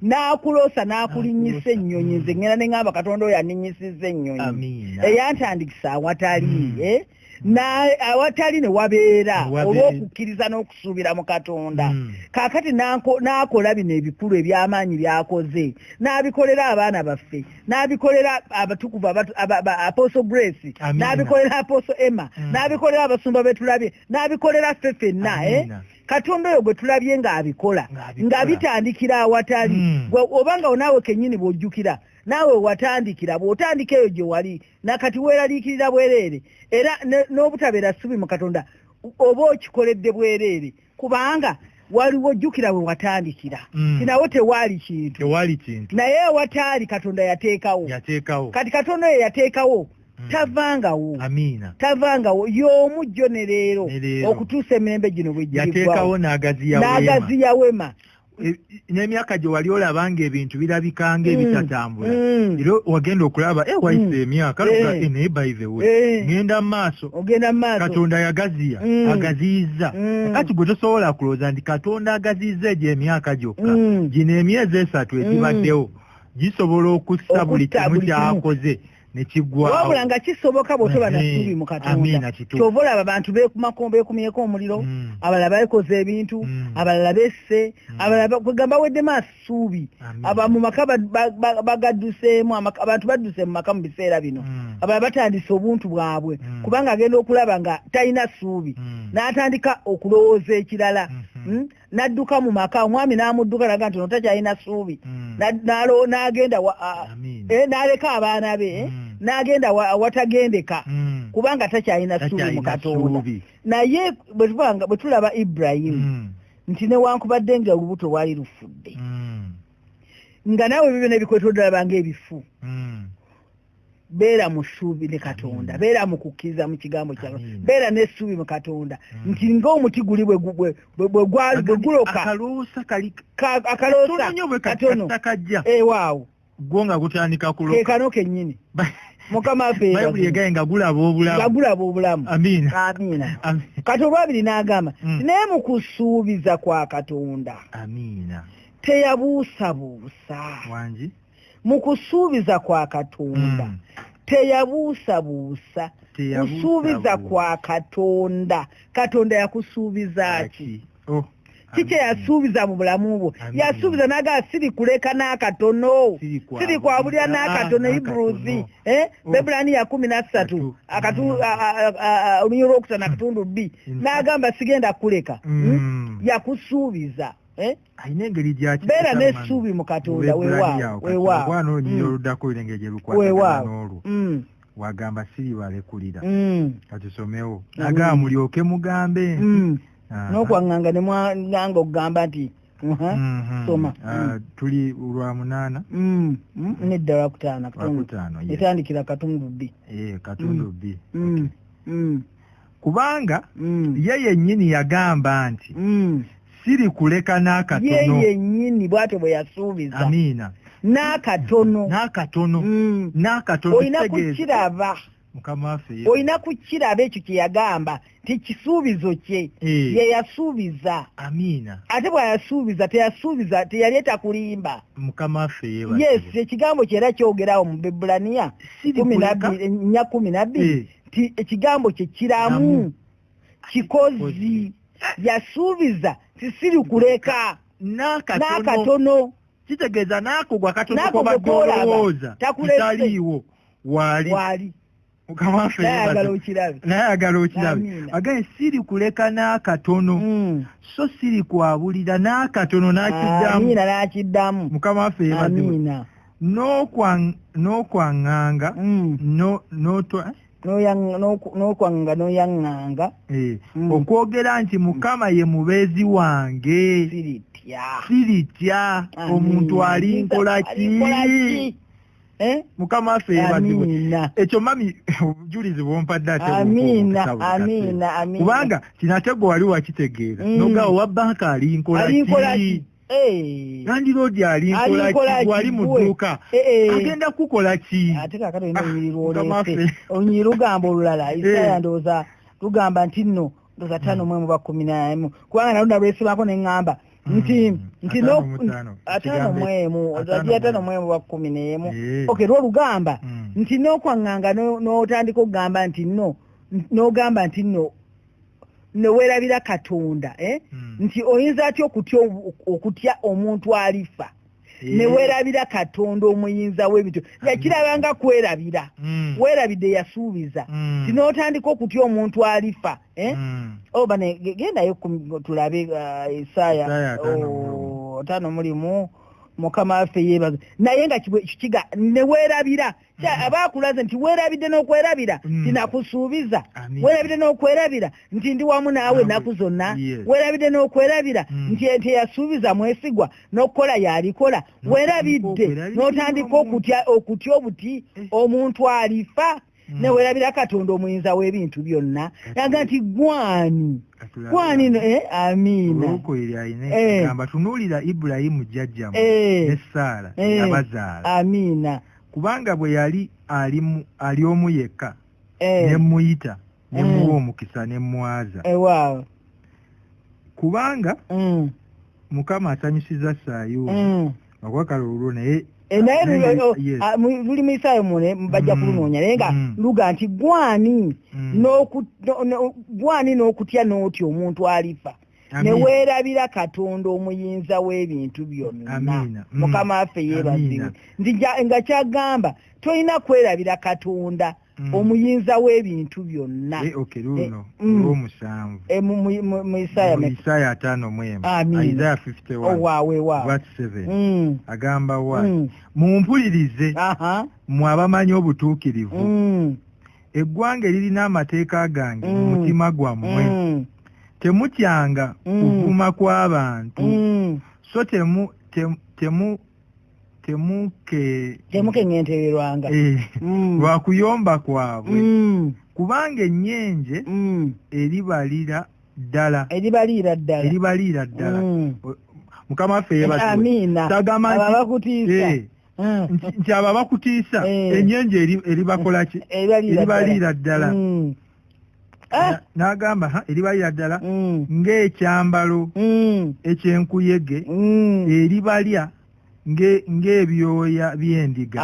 n'akulosa n'akulinyisa ennyonyi nze ngenda ne ŋamba katonda oyo anninyisiza ennyonyi eyantandikisa awatali eh? awatali ne wabeera olw'okukkiriza n'okusuubira mu katonda hmm. kaakati n'akola bino ebikulu eby'amaanyi by'akoze n'abikolera abaana baffe n'abikolera abatukuvu aposo grace n'abikolera aposo emma hmm. n'abikolera abasumba betulabye n'abikolera ffe fenna eh? katonda oyo gwe tulabye ng'abikola nga bitandikira awatali hmm. oba nga onaawe kennyini bw'ojjukira naawe watandikira bw'otandika eyo gye wali nakati weeraliikirira bwereere era n'obutabeera ssubi mu katonda oba okikoledde bwereere kubanga waliwo jjukira we watandikira mm. tinawo tewaali kintu tewaali kintu naye ewataali katonda yateekawo yateekawo kati katonda oyo yateekawo Mm. tavangawo amiina tavangawo y'omu jjo ne leero okutuusa emirembe gino bwegyateekawo n'agaziya wema E, n'emyaka gye wali olaba nga ebintu birabika nga mm. ebitatambula mm. era wagenda okulaba e wayise mm. emyaka eh. e, naye by the way eh. ngenda maaso ogenda maaso katonda yagaziya agaziyizza kati gwe tosobola kulooza nti katonda agaziyizza egyo emyaka gyokka gino emyezi esatu egibaddewo gisobola okussa buli kimu kyakoze wabula nga kisoboka bwotoba nasuubi mu katonda kyova olaba abantu bekumyeeko omuliro mm. abalala bakoze ebintu mm. abalala besse mm. abalala kwegamba weddemu asuubi aba mu maka bagadduseemu abantu badduse mu maka mu biseera bino abalala batandise obuntu bwabwe kubanga agenda okulaba nga talina suubi n'atandika okulowooza ekirala mm-hmm. hmm? n'adduka mu maka omwami n'amudduka naga nti notakyalina suubi hmm. n'agenda eh, n'aleka abaana be eh, hmm. n'agenda awatagendeka hmm. kubanga takyalina suubi mu katonda naye bwe tulaba ibrahimu nti newankubadde nga olubuto lwali lufudde nga naawe bibyo nebikwetodalabanga ebifu beera mu ssuubi ne katonda mm. beera mu kukkiriza mu kigambo kyawe beera n'essuubi mu katonda mm. nti ng'omuti guli bwe guloka akaloosa katono ewaawo eh, gwo nga gutandika kuloka kekano kennyini mukama afebayibuli egaye nga gulaba obulamu nga gulaba obulamu amiina amiina kati olwabiri n'agamba mm. naye mu kusuubiza kwa katonda amiina teyabuusabuusa wangi mu kusuubiza kwa katonda mm. teyabuusabuusa kusuubiza kwa katonda katonda yakusuubizaki oh, kiki yasuubiza mu bulamu bwo yasuubiza naga siri kuleka n'akatono siri kwabulira n'akatono ah, ibruzi eh? oh. bebulani ya kumi nassatu olunyio lwokutana akatundu bbi n'agamba sigenda kuleka hmm? Hmm. yakusuubiza eh? alina engeri gyakibeera n'essuubi mu katonda wewaawano olunyiriro mm. oluddako olina engeri gye lukwatagana n'olwo mm. wagamba siri balekulira mm. katusomewo agamba mulyoke mugambe n'okwaŋŋanga ne mwanga okugamba nti mm-hmm. soma ah, tuli lwa munaana nedda lwakutaana etandikira katundu bbi eh, katundu bbi kubanga mm. ye yennyini yagamba nti mm. siri kuleka n'akatono ye yennyini bw'atyo bwe yasuubiza amiina n'akatono n'akatono mm. n'akatono olina kukiraba mukama waffe olina kukiraba ekyo kye yagamba nti kisuubizo kye eh. ye yasuubiza amiina ate bw'ayasuubiza teyasuubiza teyali etakulimba mukama waffe yes ekigambo kye era kyogerawo mu bebulaniya kumi nabbiri ennya kumi nabbiri eh. nti ekigambo kye kiramu kikozi yasuubiza tisiri kuleka n'akatono kitegeeza naako gwa katono kobadde olowooza kitaliiwo waali nayagala okirabe agaye siri kuleka n'akatono hmm. so siri kwabulira n'akatono nakiddamu mukama waffe yebaziwe n'okwanganga n'okwanganga n'oyanganga okwogera nti mukama ye mubeezi wange siritya omuntu ali nkola ki Eh? mukama affe yebazibwe ekyo mami obujulizi bwompadde atekubanga kinatego wali wakitegeera mm. nogawo wabanka ali nkolaki nandiroodi alinkolawali mu dduuka eh, eh. agenda kukola ki ate kakati olina olunyiriri ah, lwoleese olunyiriri lugamba olulala eh. isaaya ndowooza lugamba nti nno ndowooza tano mwemu ba kumi namu kubanga naluda lwesibako ne ŋŋamba hmm. nti nti atano mwemu ozajia atano mwemu ba kumi nemu oke lwo lugamba hmm. nti n'okwaŋŋanga n'otandika okugamba nti nno n'ogamba nti nno newerabira katonda eh? mm. nti oyinza atya okutya okutya omuntu alifa eh. newerabira katonda omuyinza w'ebintu yakirabanga kwerabira mm. werabidde yasuubiza mm. ti n'otandika okutya omuntu alifa eh? mm. oh, bane gendayo tulabe uh, esaaya oh, ataano mulimu mukama waffe yebaza naye nga kiga newerabira Mm-hmm. aba akulaze nti weerabidde n'okwerabira nti mm-hmm. nakusuubiza weerabidde n'okwerabira nti ndi wamu naawe ennaku zonna weerabidde n'okwerabira mm. nti ente yasuubiza mwesigwa n'okukola yalikola weerabidde n'otandika okutya okutya obuti eh. omuntu alifa mm. newerabira katonda omuyinza w'ebintu byonna naga nti gwani gwani eh, amiina eh. tunuulira ibulayimu jjajjamu ne saala abazaala amiina kubanga bwe yali ali omu yekka eh. ne mmuyita ne mm. muwa omukisa ne mmwaza eh, kubanga mm. mukama asanyusiza saayuuni mm. akwakala olulwo naye eh, naye luli ah, mu isaayo mune bajja kulunoonya naye nga luga nti gwani gwani n'okutya n'otya omuntu alifa ne weerabira katonda omuyinza w'ebintu byonna mm. mukama waffe yeebazibwe nti nga kyagamba tolina kwerabira katonda mm. omuyinza w'ebintu byonna eh, eh, mm. eh, mu isaaya ataano agamba wa mumpulirize mwe abamanyi obutuukirivu eggwanga eririna amateeka gange mu mm. mutima gwammwe mm. temutyanga mm. kuvuma kw'abantu so temu temu temukeŋentererwanga eh, lwa kuyomba kwabwe kubanga ennyenje eribalira ddala eribaliira ddala eribaliira ddala mukama waffe yebatuwe tagamba nti hmm. nti abo abakutiisa eh. enyenje eribakolaki eribaliira ddala hmm. eh? n'agamba eribaliira ddala hmm. ng'ekyambalo ekyenkuyege eribalya ng'ebyoya by'endiga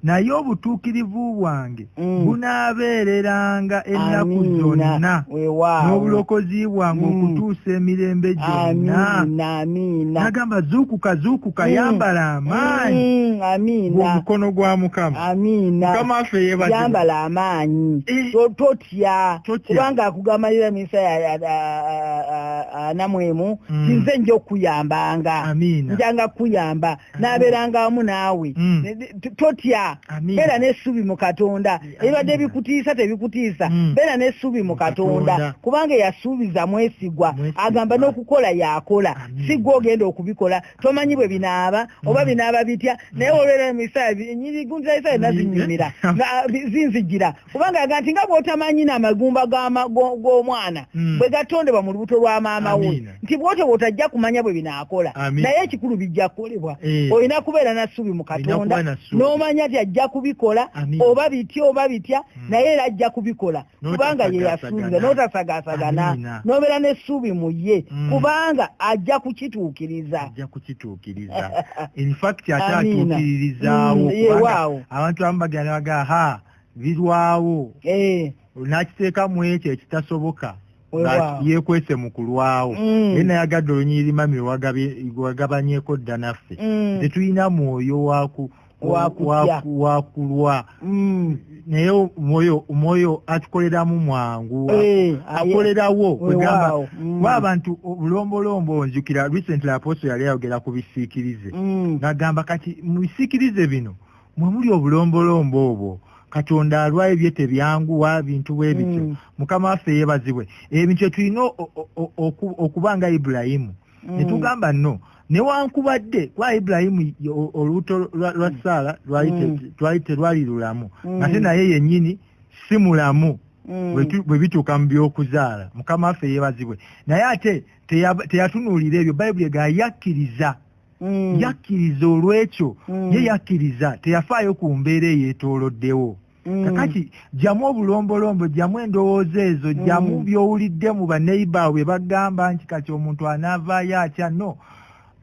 naye obutuukirivu bwange Mm. bunaabeereranga ennaku zonna n'obulokozi bwange mm. okutuusa emirembe gyonna nagamba zuukuka zuukuka mm. yambala amaanyi omukono gwa mukama mukama affe yeyambala amaanyi eh. totya kubanga akugamalira emisa anamwemu kinze nja okuyambanga njanga kuyamba n'abeeranga wamu naawe mm. totya beera n'essuubi mu katonda ebibadde bikutiisa tebikutiisa mm. beera n'essuubi mu katonda kubanga eyasuubiza mwesigwa agamba n'okukola yakola si gwe ogenda okubikola tomanyi bwe binaaba mm. oba binaaba bitya naye olwera mu isaaya enyirigunza isaaya nazinyumira zinzigira kubanga aga nti nga bwotamanyina amagumba g'omwana hmm. bwe gatondebwa mu lubuto lwa maama we nti bwotyo bwotajja kumanya bwe binaakola naye ekikulu bijja kukolebwa eh. olina kubeera na ssuubi mu katonda n'omanya nti ajja kubikola oba bitya oba bitya hmm. naye era ajja kubikola kubanga ye yasuubiza n'otasagaasagana n'obeera n'essuubi mu ye hmm. kubanga ajja kukituukiriza ajja kukituukiriza infact ate atuukiririzaawo abantu abamu bagenda bagaa birwawo eh. nakiteeka mu ekyo ekitasoboka yekwese mu kulwawo mm. naye nayagadde olunyiriri mami wagabanyeko dda naffe mm. tetulina mwoyo waku wakulwa mm. naye omwoyo omwoyo atukoleramu mwangu eh, akolerawo kwegamba mm. kuba abantu obulombolombo onjukira recently apostle yali ayogera ku bisiikirize mm. nagamba kati mu bisiikirize bino mwe muli obulombolombo obwo katonda alwayo bye tebyanguwa bintu bwe bityo mm. mukama waffe yebazibwe ebintu etulina okuba nga ibulayimu mm. netugamba no newankubadde kuba ibulayimu olubuto lwa mm. saala lwali terwali lulamu ate naye yenyini si mulamu bwe bituuka mu byokuzaala mukama waffe yebazibwe naye ate teyatunuulira ebyo bayibuli egayakkiriza mm. yakkiriza olw'ekyo mm. ye yakkiriza teyafaayo ku mbeera eyeetooloddewo mm. kakati jjamu obulombolombo jjamu endowooza ezo jjamu mm. by'owulidde mu baneiba bwe bagamba nti kati omuntu anaavaayo atya no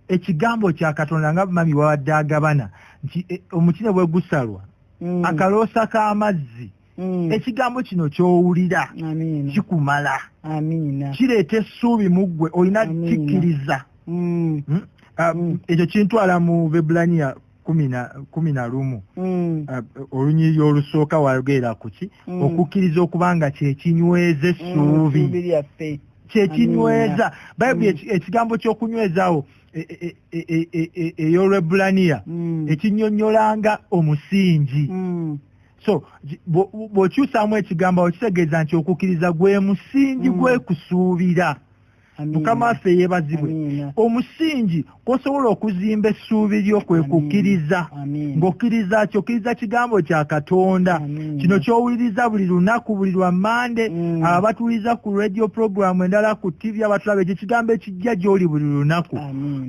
ekigambo kya katonda nga mami wawadde agabana nti e, omuti ne bwe gusalwa mm. akaloosa k'amazzi mm. ekigambo kino kyowulira kikumala kireeta essuubi mu ggwe olina kikkiriza mm. hmm? ah, mm. ekyo kintwala mu bebulaniya kumi na lumu mm. ah, olunyiriri olusooka wayogerera kuki mm. okukkiriza okuba nga kyekinyweza essuubi mm, kyekinyweza bayibuli mm. ekigambo ky'okunywezawo ey'olwebulaniya e, e, e, ekinyonyolanga omusingi so bw'okyusaamu ekigambo awo kitegeeza nti okukkiriza gwe musingi mm. gwekusuubira mukama waffe yeebazibwe omusingi kwosobola okuzimba essuubi lyo kwe kukkiriza ng'okkiriza kyo okkiriza kigambo kya katonda kino kyowuliriza buli lunaku buli lwa mande mm. abo abatuwuliriza ku radio programu endala ku tivi abatulaba ekyo ekigambo ekijja gy'oli buli lunaku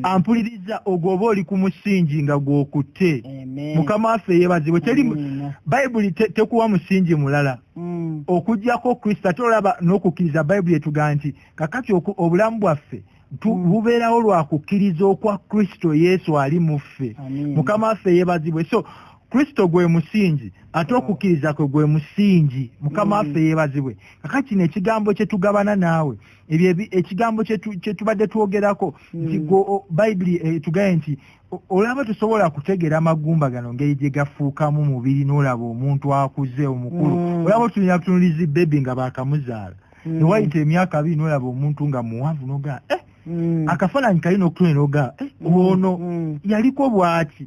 ampuliriza ogwoba oli ku musingi nga gw'okutte mukama waffe yebazibwe teri bayibuli tekuwa musingi mulala mm. okujjako kristo ate olaba n'okukkiriza bayibuli etugaa nti kakati obulamu bwaffe mm. bubeerawo lwa kukkiriza okwa kristo yesu ali mu ffe mukama waffe yebazibwe so kristo gwe musingi ate okukkiriza kwe gwe musingi mukama mm. waffe yebazibwe kaka kino ekigambo kye tugabana naawe ebyo ekigambo kye tubadde twogerako nti mm. bayibuli etugaye eh, nti olaba tusobola kutegera amagumba gano ngeri gye gafuukamu mubiri n'olaba omuntu akuze omukulu mm. olaba otulina tunulizi bebi nga bakamuzaala mm. newayita emyaka abiri n'olaba omuntu nga muwanvu nogaa eh, mm. akafaananyi kali nokutune nogaa eh, ono yaliko bwaki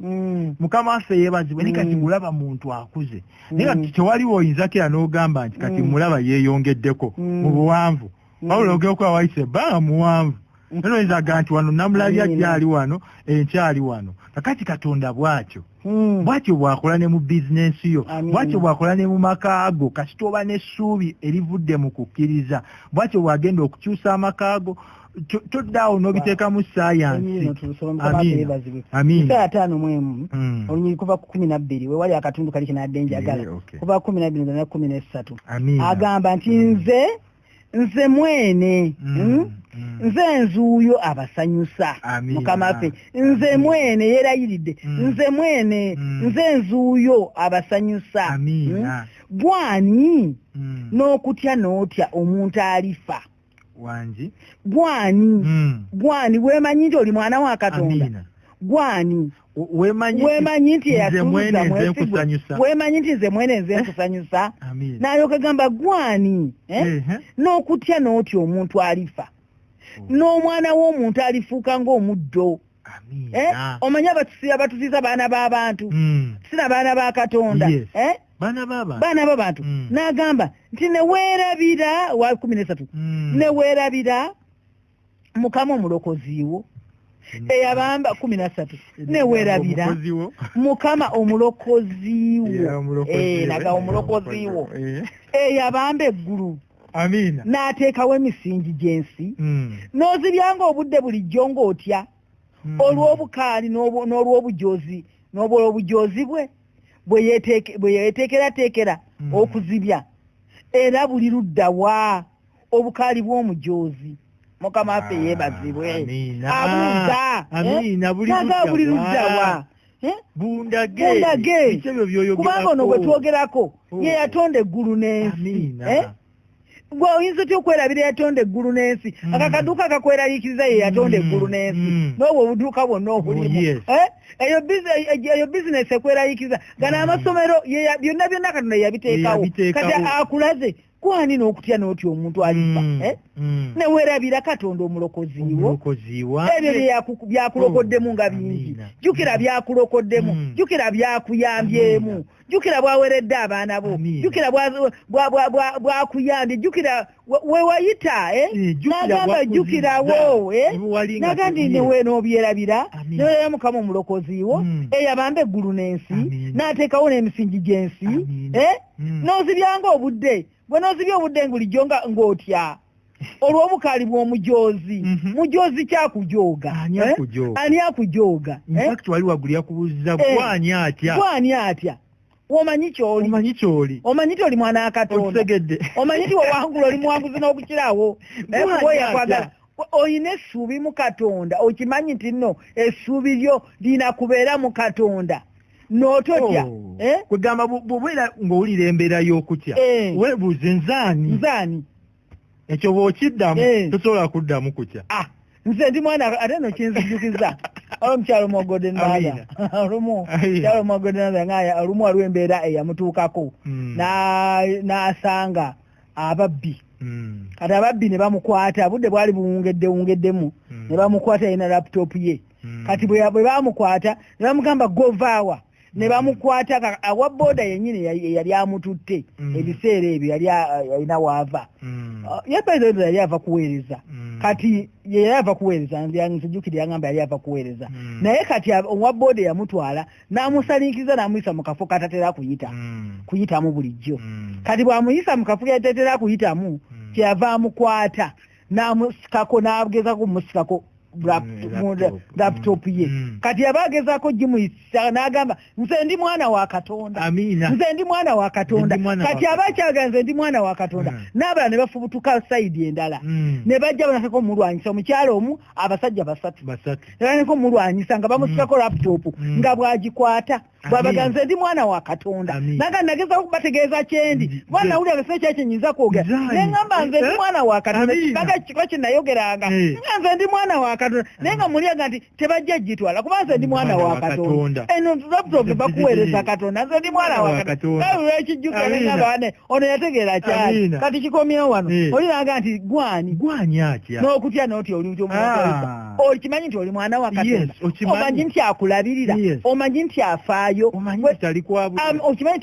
mukama waffe yebazibwe naye kati mulaba muntu akuze naye kati tewaliwo oyinzako era n'ogamba nti kati mulaba yeeyongeddeko mu buwanvu wabula ogera okuba wayisa ebbanga muwanvu era mm. oyinza aga nti wano namulabya gyali wano enkyali wano kakati katonda bwatyo mm. bwatyo bwakola ne mu bizinensi yo bwatyo bwakola ne mu maka ago kasita oba n'essuubi erivudde mu kukkiriza bwatyo bwagenda okukyusa amaka ago toddaawo n'obiteekamu sayansi ataano mu emu mm. olunyiri kuva ku kumi nabbiri wewali akatundu kali kinadde njagala kuva ku kumi nabbiri nzana kumi n'essatu agamba nti nze nze mwene mm, hmm? mm. nze nzuuyo abasanyusa mukama waffe nze mm. mwene yerayiridde mm. nze mwene mm. nze nzuuyo abasanyusa hmm? gwani mm. n'okutya n'otya omuntu alifa wangi gwani mm. gwani wemanyi nti oli mwana wa katonda gwani wemanyi nti eyatuuza mwesigwa wemanyi nti nze mwene nze eh? nkusanyusa naye okagamba gwani eh? n'okutya n'otya omuntu alifa oh. n'omwana w'omuntu alifuuka ng'omuddo eh? omanyi abatusiza baana b'abantu hmm. sina baana ba katonda baana b'abantu hmm. n'agamba nti neweerabira wa kumi n'esatu hmm. neweerabira mukama omulokoziiwo mm. eyabamba kumi nasatu newerabira mukama omulokoziiwo eh, naga omulokoziiwo eh. eyabamba eggulu amiina n'ateekawo emisingi gy'ensi mm. n'ozibyanga obudde bulijjo ng'otya mm. olw'obukaali n'olw'obujoozi n'obwolw'obujoozi bwe bwe yeteekerateekera okuzibya era buli ludda waa obukaali bw'omujoozi mukama waffe yeebazibwe abuuza naga buli luddawa bundage kubanga ono gwe twogerako oh. ye yatonda eggulu n'ensi eh? gwe oyinza otya okwerabira yatonda eggulu n'ensi mm. aka kaduuka kakweraliikiriza ye yatonda mm. eggulu n'ensi mm. n'obwo obuduuka bwonna oh, obulimu eh? eyo eh, bizinesi ekweraliikiriza gana amasomero byonna byonna katonda yabiteekawo kati akulaze kwani n'okutya n'otya omuntu alifa mm, eh? mm. newerabira katonda omulokoziwo ebyo byakulokoddemu nga bingi jukira mm. byakulokoddemu jukira byakuyambyemu jukira bwaweredde abaana bo jukira bwakuyambye jukira wewayita eh? eh, nagamba jukirawo nagandi newe nobyerabira newera mukama omulokoziwo eyabamba eggulu n'ensi n'ateekawo n'emisingi gy'ensi hmm. n'ozibyanga obudde gwe n'ozibya obudde ngulijjo nga ng'otya olw'obukaali bw'omujoozi mhm. mujoozi kyakujooga ani eh? akujooga eh? wali wagulu yakubuuziza eh. gwani atya gwani atya omanyi kyoli omanyi kyoli omanyi ti oli mwana wa katonda omanyi ti wewangula oli muwanguzi n'okukirawo oyakwagala olina essuubi mu katonda okimanyi nti nno essuubi lyo lina kubeera mu katonda nototya oh. eh? kwegamba bwobeera ng'owulira embeera y'okutya eh. webuuze nzaani nzaani ekyo bwokiddamu eh. tosobola kuddamu kutya ah, nze ndi mwana ate no kinzijukiza olumu mwogode naya olumu kyalo mwogode naya nga olumu waliwo embeera eyamutuukako hmm. n'asanga ababbi hmm. kati ababbi ne bamukwata budde bwali buwungedde wungeddemu hmm. ne bamukwata yena laptop ye hmm. kati bwe bamukwata ne bamugamba govaawa ne bamukwata awa boda yenyini yali amututte ebiseera ebyo yali alina waava uh, yebezo yali ava kuweereza kati yeyali ava kuweereza nzijukire yangamba yali ava kuweereza naye kati owa boda yamutwala n'amusalinkiriza n'amuyisa mu kafo katatera kuyita hmm. kuyitamu bulijjo hmm. kati bw'amuyisa mu kafo katatera kuyitamu hmm. kyeyava amukwata n'amusikako n'agezako kumusikako laptop ye kati yaba agezako gimuyisa n'agamba nze ndi mwana wa katonda nze ndi mwana wa katonda kati aba akyaga nze ndi mwana wa katonda n'abala ne bafubutuka sayidi endala ne bajja banasako omulwanyisa omukyalo omu abasajja basatu nko mulwanyisa nga bamusirako mm. laptop mm. nga bwagikwata bwabaganze ndi mwana wa katonda naga nagezako kubategeeza kyendi mm. kuba nawulira bese ekyekinyinza kwogera neŋamba nze ndi eh? mwana wa katonda kibaga kiba kyenayogeranga eh. nga nze ndi mwana wa katonda ah. naye nga muliaga nti tebajja gitwala kuba nze ndi mwana wa katonda eno laptop bakuweereza katonda nze ndi mwana wa katonda ekijjukira neŋamba wane ono yategeera kyali kati kikomyewo wano eh. oyiraga nti gwani gwani atya n'okutya n'otya oli nti omuaa ah. okimanyi nti oli mwana wa katonda omanyi nti akulabirira omanyi nti afaayo okimanyi nti tali kwabulira um, okimanyi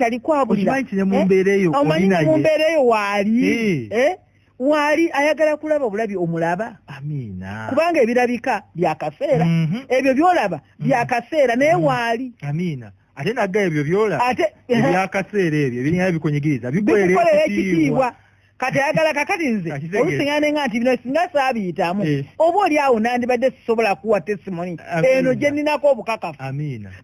nti ne mu eh? mbeera eyo omanyi nti mu mbeera eyo waali eh. waali ayagala kulaba obulabi omulaba amiina kubanga ebirabika byakaseera mhm. ebyo byolaba byakaseera naye mhm. waali amiina ate nagga ebyo byola ate ebyakaseera ebyo ebiringa bikunyigiriza bikukolera ekitiibwa kati ayagala kakati nze olusiŋana nenga nti bino singa saabiyitamu eh. oba oli awo nandibadde sisobola kuwa testimony eno gye ninako obukakafu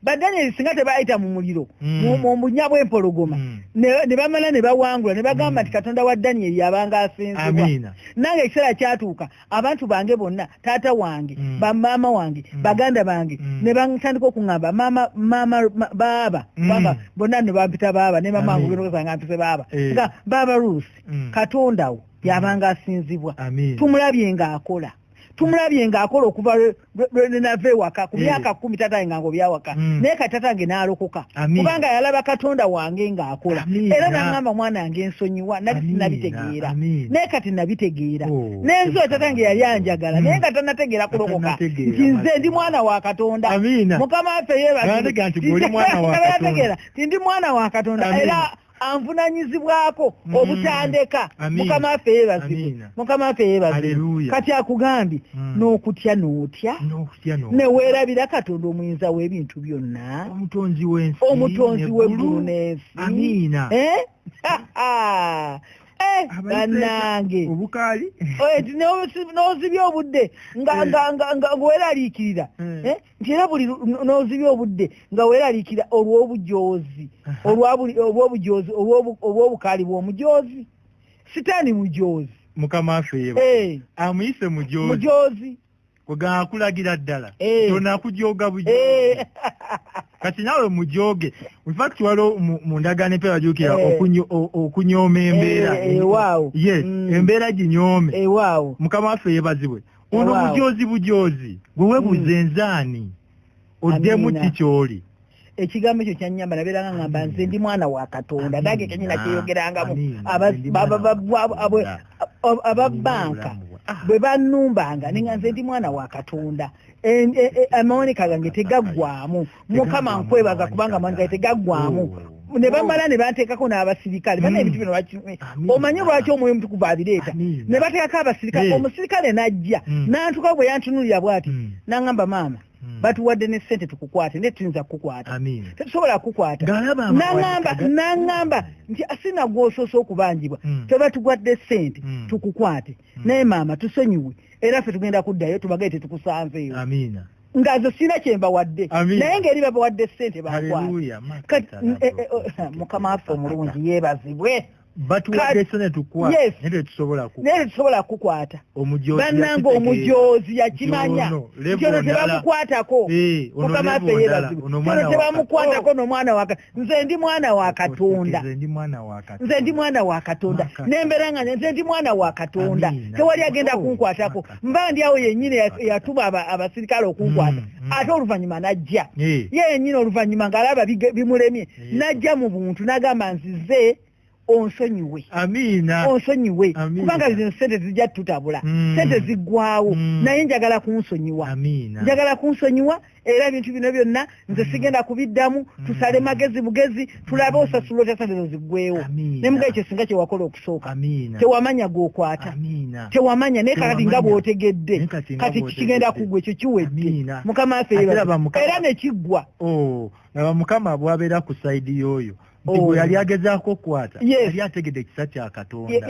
badanyeri singa tebayita mu muliro hmm. mu bunya bw'empologoma hmm. ne bamala ne bawangula ne bagamba hmm. nti katonda wa daniyeri yabanga asinzibwa nange ekiseera kyatuuka abantu bange bonna taata wange mm. bamaama wange mm. baganda bange mm. ne bantandika okuŋamba maama maama baaba mm. baba bonna ne bampita baaba ne mama wange ogerogesanga mpise baaba eh. nga baaba ruusi mm. katondawo mm. yabanga asinzibwa tumulabye ng'akola tumulabye ng'akola okuva lwenava ewaka ku eh. myaka kumi tata nga ngobyawaka hmm. naye kati tata nge nalokoka kubanga yalaba katonda wange ng'akola era nangamba mwana wange nsonyiwa nali sinabitegeera naye kati nabitegeera oh, nenzo tata nge yali anjagala naye nga hmm. tanategeera kulokoka nti nze ndi mwana wa katonda mukama waffe yebategeera tindi mwana wa katonda era anvunanyizibwako mm. obutandeka mukama affe yebazibu mukama affe yebazibu kati akugambye mm. n'okutya n'otya neweerabira katonda omuyinza w'ebintu byonna omutonzi w'eggulu n'ensi amiina eh? Eh, banange n'ozibya obudde ngaweraliikirira hmm. eh? nti era buli n'ozibya obudde nga weeraliikira olw'obujoozi olw'obujoozi olw'obukaali bw'omujoozi sitaani mujoozi mukama affe yeba eh. amuyise mujoozi mujoozi akulagira ddala eh. tonakujoga bujoozi eh. kati nawe mujoge infact waliwo mu ndagaano empeera jukira okunyooma embeera yes mm. embeera ginyoome mukama waffe yebazibwe ono bujoozi bujoozi gwe webuuze hmm. nzaani oddemu ki kyoli ekigambo ekyo kyanyamba nabeeranga ngamba nze ndi mwana wa katonda nange kenyina kyeyogerangamu ababanka ah. bwe banumbanga ninga nze ndi mwana wa katonda e, e, e, amawoneka gange tegaggwamu mukama nkwebaza kubanga amanga tegaggwamu oh. ne bamala ne banteekako n'abasirikale bana hmm. ebintu bino bakime omanyi lwaki omwoyo omutukuvu abireeta ne bateekako abasirikale omusirikale n'ajja hmm. n'antuka bwe yantunulira bw'ati hmm. n'aŋamba maama Hmm. batuwadde ne sente tukukwate naye tuyinza kukukwata tetusobola kukukwata naamba naŋamba nti asina gwosoose okubanjibwa hmm. tebatugwadde sente hmm. tukukwate naye maama tusonyiwe era ffe tugenda kuddayo tubagaye tetukusanzeeyo nga nze sirina kyembawadde naye ngaeri babawadde sente bakwamukama waffe omulungi yebazibwe tetusobola kukwata banange omujoozi yakimanya kyono tebamukwatako eh, mukama waffe yebazibwe kyono tebamukwatako nomwana waka nze ndi mwana wa katonda nze ndi mwana wa katonda nembeera nga nze ndi mwana wa katonda tewali agenda oh, kunkwatako mba ndi awo yenyini yatuma abasirikale okunkwata mm, mm. ate oluvannyuma najja ye yenyini oluvannyuma ngaalaba bimulemye najja mu buntu nagamba nzize onsonyiwe amiina onsonyiwe kubanga zino sente zijja tutabula mm. sente ziggwawo mm. naye njagala kunsonyiwa amiina njagala kunsonyiwa era ebintu bino byonna nze mm. sigenda kubiddamu mm. tusale magezi bugezi tulabe osasula otya sente zo ziggwewo ne muga ekyo singa kyewakola okusooka amiina tewamanya gwokwata amiina tewamanya naye kakati nga bwotegedde kati kigenda kugwa ekyo kiwedde mukama afeera era nekiggwa oh, laba mukama bwabeera ku saidi yoyo nti gwe oh. yali agezaako okukwata yali ategedde ekisa kya katonda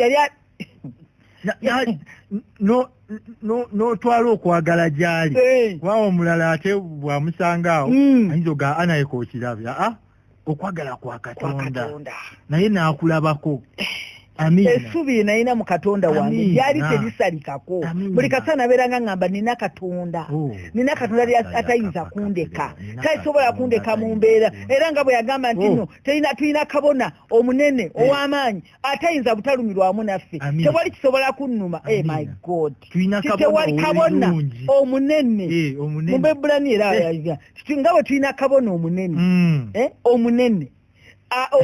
n'otwala okwagala gy'ali waawo omulala ate bwamusanga awo hmm. ayinza oga anayeka okirabya ah, okwagala kwa katonda naye n'akulabako esubi yenalina mu katonda wange lyali terisalikako buli kasaa naberanga ngamba nina katonda oh. nina katonda lyatayinza kundeka tasobola kundeka mu mbeera era nga bwe yagamba nti oh. no terina tulina kabona omunene eh. ow'amaanyi atayinza butalumirwamu naffe tewali kisobola kunnuma e my god tewali kabona omunene eh, mu bebulani era eh. nga bwe tulina kabona omunene hmm. omunene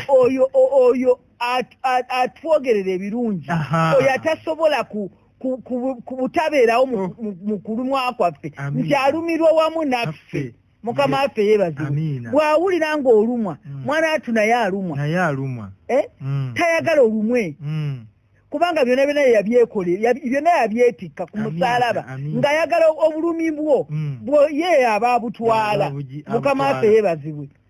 oyo oyo atwogerera ebirungi oyo atasobola ku ku butabeerawo mu oh. kulumwa kwaffe nti alumirwa wamu naffe mukama waffe yeebazibwe bw'awulira ng'olumwa mm. mwana watu naye alumwa naye alumwa eh? mm. tayagala olumwe mm. kubanga byonna byonna yabyekole byonna yabyetikka ku musaalaba ng'ayagala obulumi bwo bwo ye aba abutwala mukama waffe yeebazibwe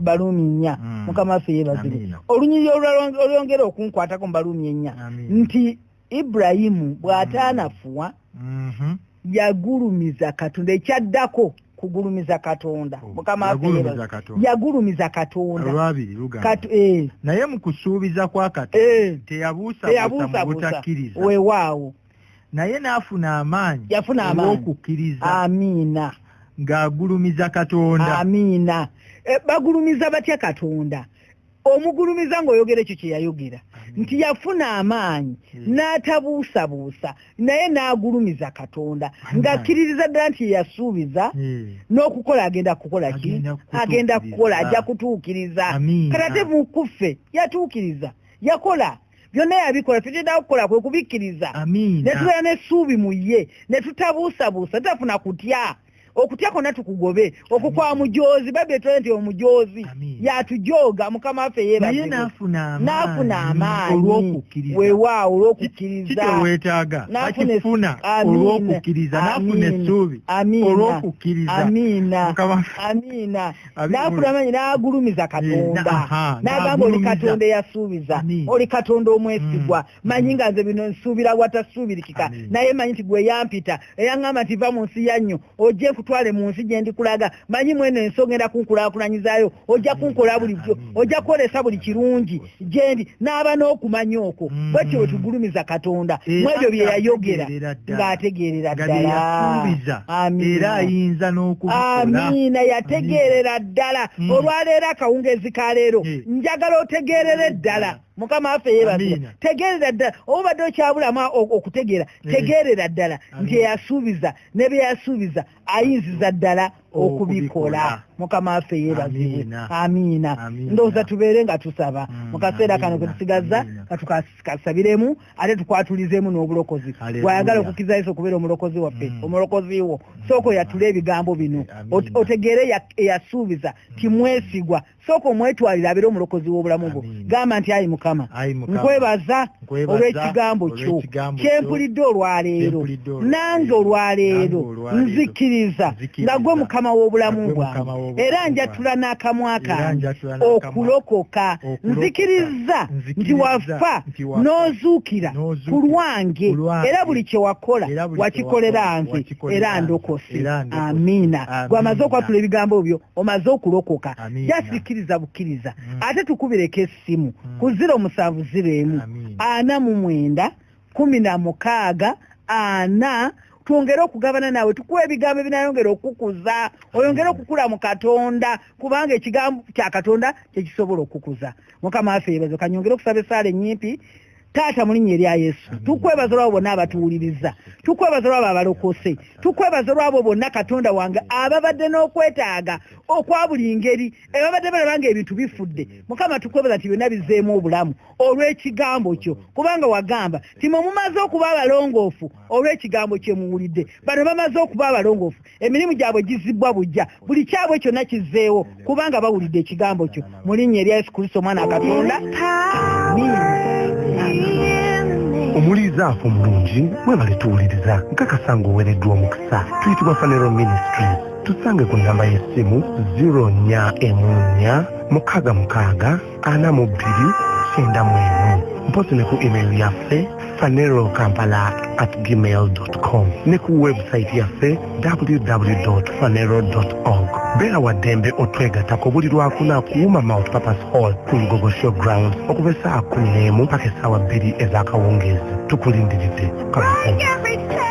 baluumi nnya mm. mukama waffe yebazibwe olunyiriri olwongera okunkwatako mu baluumi ennya nti ibrahimu bw'ataanafuwa mm-hmm. yagulumiza katonda ekyaddako kugulumiza katonda oh, mukama yagulumiza katonda eh. naye mu kusuubiza kwa katonda eh. teyabuusabuusa mu butakkiriza wewaawo naye n'afuna amaanyi yafuna amaanyi okukkiriza amiina ng'agulumiza katonda amiina e, bagulumiza batya katonda omugulumiza ng'oyogera ekyo kye yayogera nti yafuna amaanyi hmm. n'atabuusabuusa naye n'agulumiza katonda ng'akkiririza ddala nti yeyasuubiza hmm. n'okukola agenda kukola ki agenda kukola ajja kutuukiriza kata te mukuffe yatuukiriza yakola byonna yabikola tetulina kukola kwe kubikkiriza ne tubeera n'essuubi mu ye ne tutabuusabuusa tutafuna kutya okutya kwonna tukugobe okukwa mujoozi babi etulae nti omujoozi yatujooga mukama waffe yebaye n'afuna amaanyi wewaawo olw'okukkiriza nafuna olw'okukkiriza nafuna essuubi olw'okukkiriza amiina n'afulamanyi n'agulumiza eh, katonda n'agamba oli katonda eyasuubiza oli katonda omwesigwa mm. manyi nga nze bino nsuubira watasuubirikika naye manyi nti gwe yampita eyaŋŋamba nti va mu nsi ya nnyo ojje kutwale mu nsi gye ndikulaga manyi mweno ensonga era kunkulaakulanyizayo ojja kunkola bulijjo ojja kwolesa buli kirungi gyendi n'aba n'okumanya okwo mm. bwekyo bwe tugulumiza katonda mu ebyo bye yayogera ng'ategeerera ddala era ayinza n'okuamiina yategeerera ddala mm. olwaleero akawungeezi ka leero eh. njagala otegeerere ddala mukama affe yebaza tegeerera ddala obubadde okyabulamu okutegeera eh. tegeerera ddala nti eyasuubiza ne bye yasuubiza ayinziza ddala okubikola mukama waffe yebaziwe amiina ndowooza tubeere nga tusaba mm, mu kaseera kano ketusigaza katukasabiremu ate tukwatulizemu n'obulokozi bwayagala okukiza yesu okubeera omulokozi waffe mm. omulokozi wo mm. sooka oyatule ebigambo bino otegeere eyasuubiza timwesigwa sooka omwetwalire abeere omulokozi w'obulamu bwo gamba nti ayi mukama nkwebaza olw'ekigambo kyo kyempulidde olwaleero nange olwaleero nzikiriza nga gwe mukama w'obulamu bwange era njatula n'akamwa kange okulokoka nzikiriza nti wafa n'ozuukira ku lwange era buli kye wakola wakikolera nze era ndokose amiina gwamaze okwatula ebigambo byo omaze okulokoka just kkiriza bukkiriza mm. ate tukubireko essimu mm. ku ziro musanvu ziro emu ana mu mwenda kumi na mukaaga ana twongere okugabana naawe tukuwa ebigambo ebinayongera okukuza oyongere okukula mu katonda kubanga ekigambo kya katonda kyekisobola okukuza mukama waffe yebazo kanyongere okusaba esaala ennyimpi taata mulinya eri ayesu tukwebaza olwabo bonna abatuwuliriza tukwebaza olwabo abalokose tukwebaza olwabo bonna katonda wange ababadde n'okwetaaga okwa buli ngeri ebabadde balaba nga ebintu bifudde mukama tukwebaza nti byonna bizeemu obulamu olw'ekigambo kyo kubanga wagamba timwe mumaze okuba abalongoofu olw'ekigambo kyemuwulidde bano bamaze okuba abalongoofu emirimu gyabwe gizibbwa bujja buli kyabwe kyonna kizzeewo kubanga bawulidde ekigambo kyo mu linnya erya yesu kristo omwana katonda omuliiza afa omulungi mwebale tuwuliriza nkakasa ng'owereddwa omukisa tuyitibwa fanero ministry tusange ku nnamba y'essimu 0 nya emu nya mukaaga mukaaga ana mu bbiri kyenda mu emu mpozi ne ku email yaffe fanero kampala at gmail com ne ku webusayiti yaffe www fanero org beera wa ddembe otwegatako buli lwakuna kuwuma mount papas hall ku lugogo show ground okuva essaawa kumi n'emu paka essaawa bbiri ez'akawungeezi tukulindiridde kaaa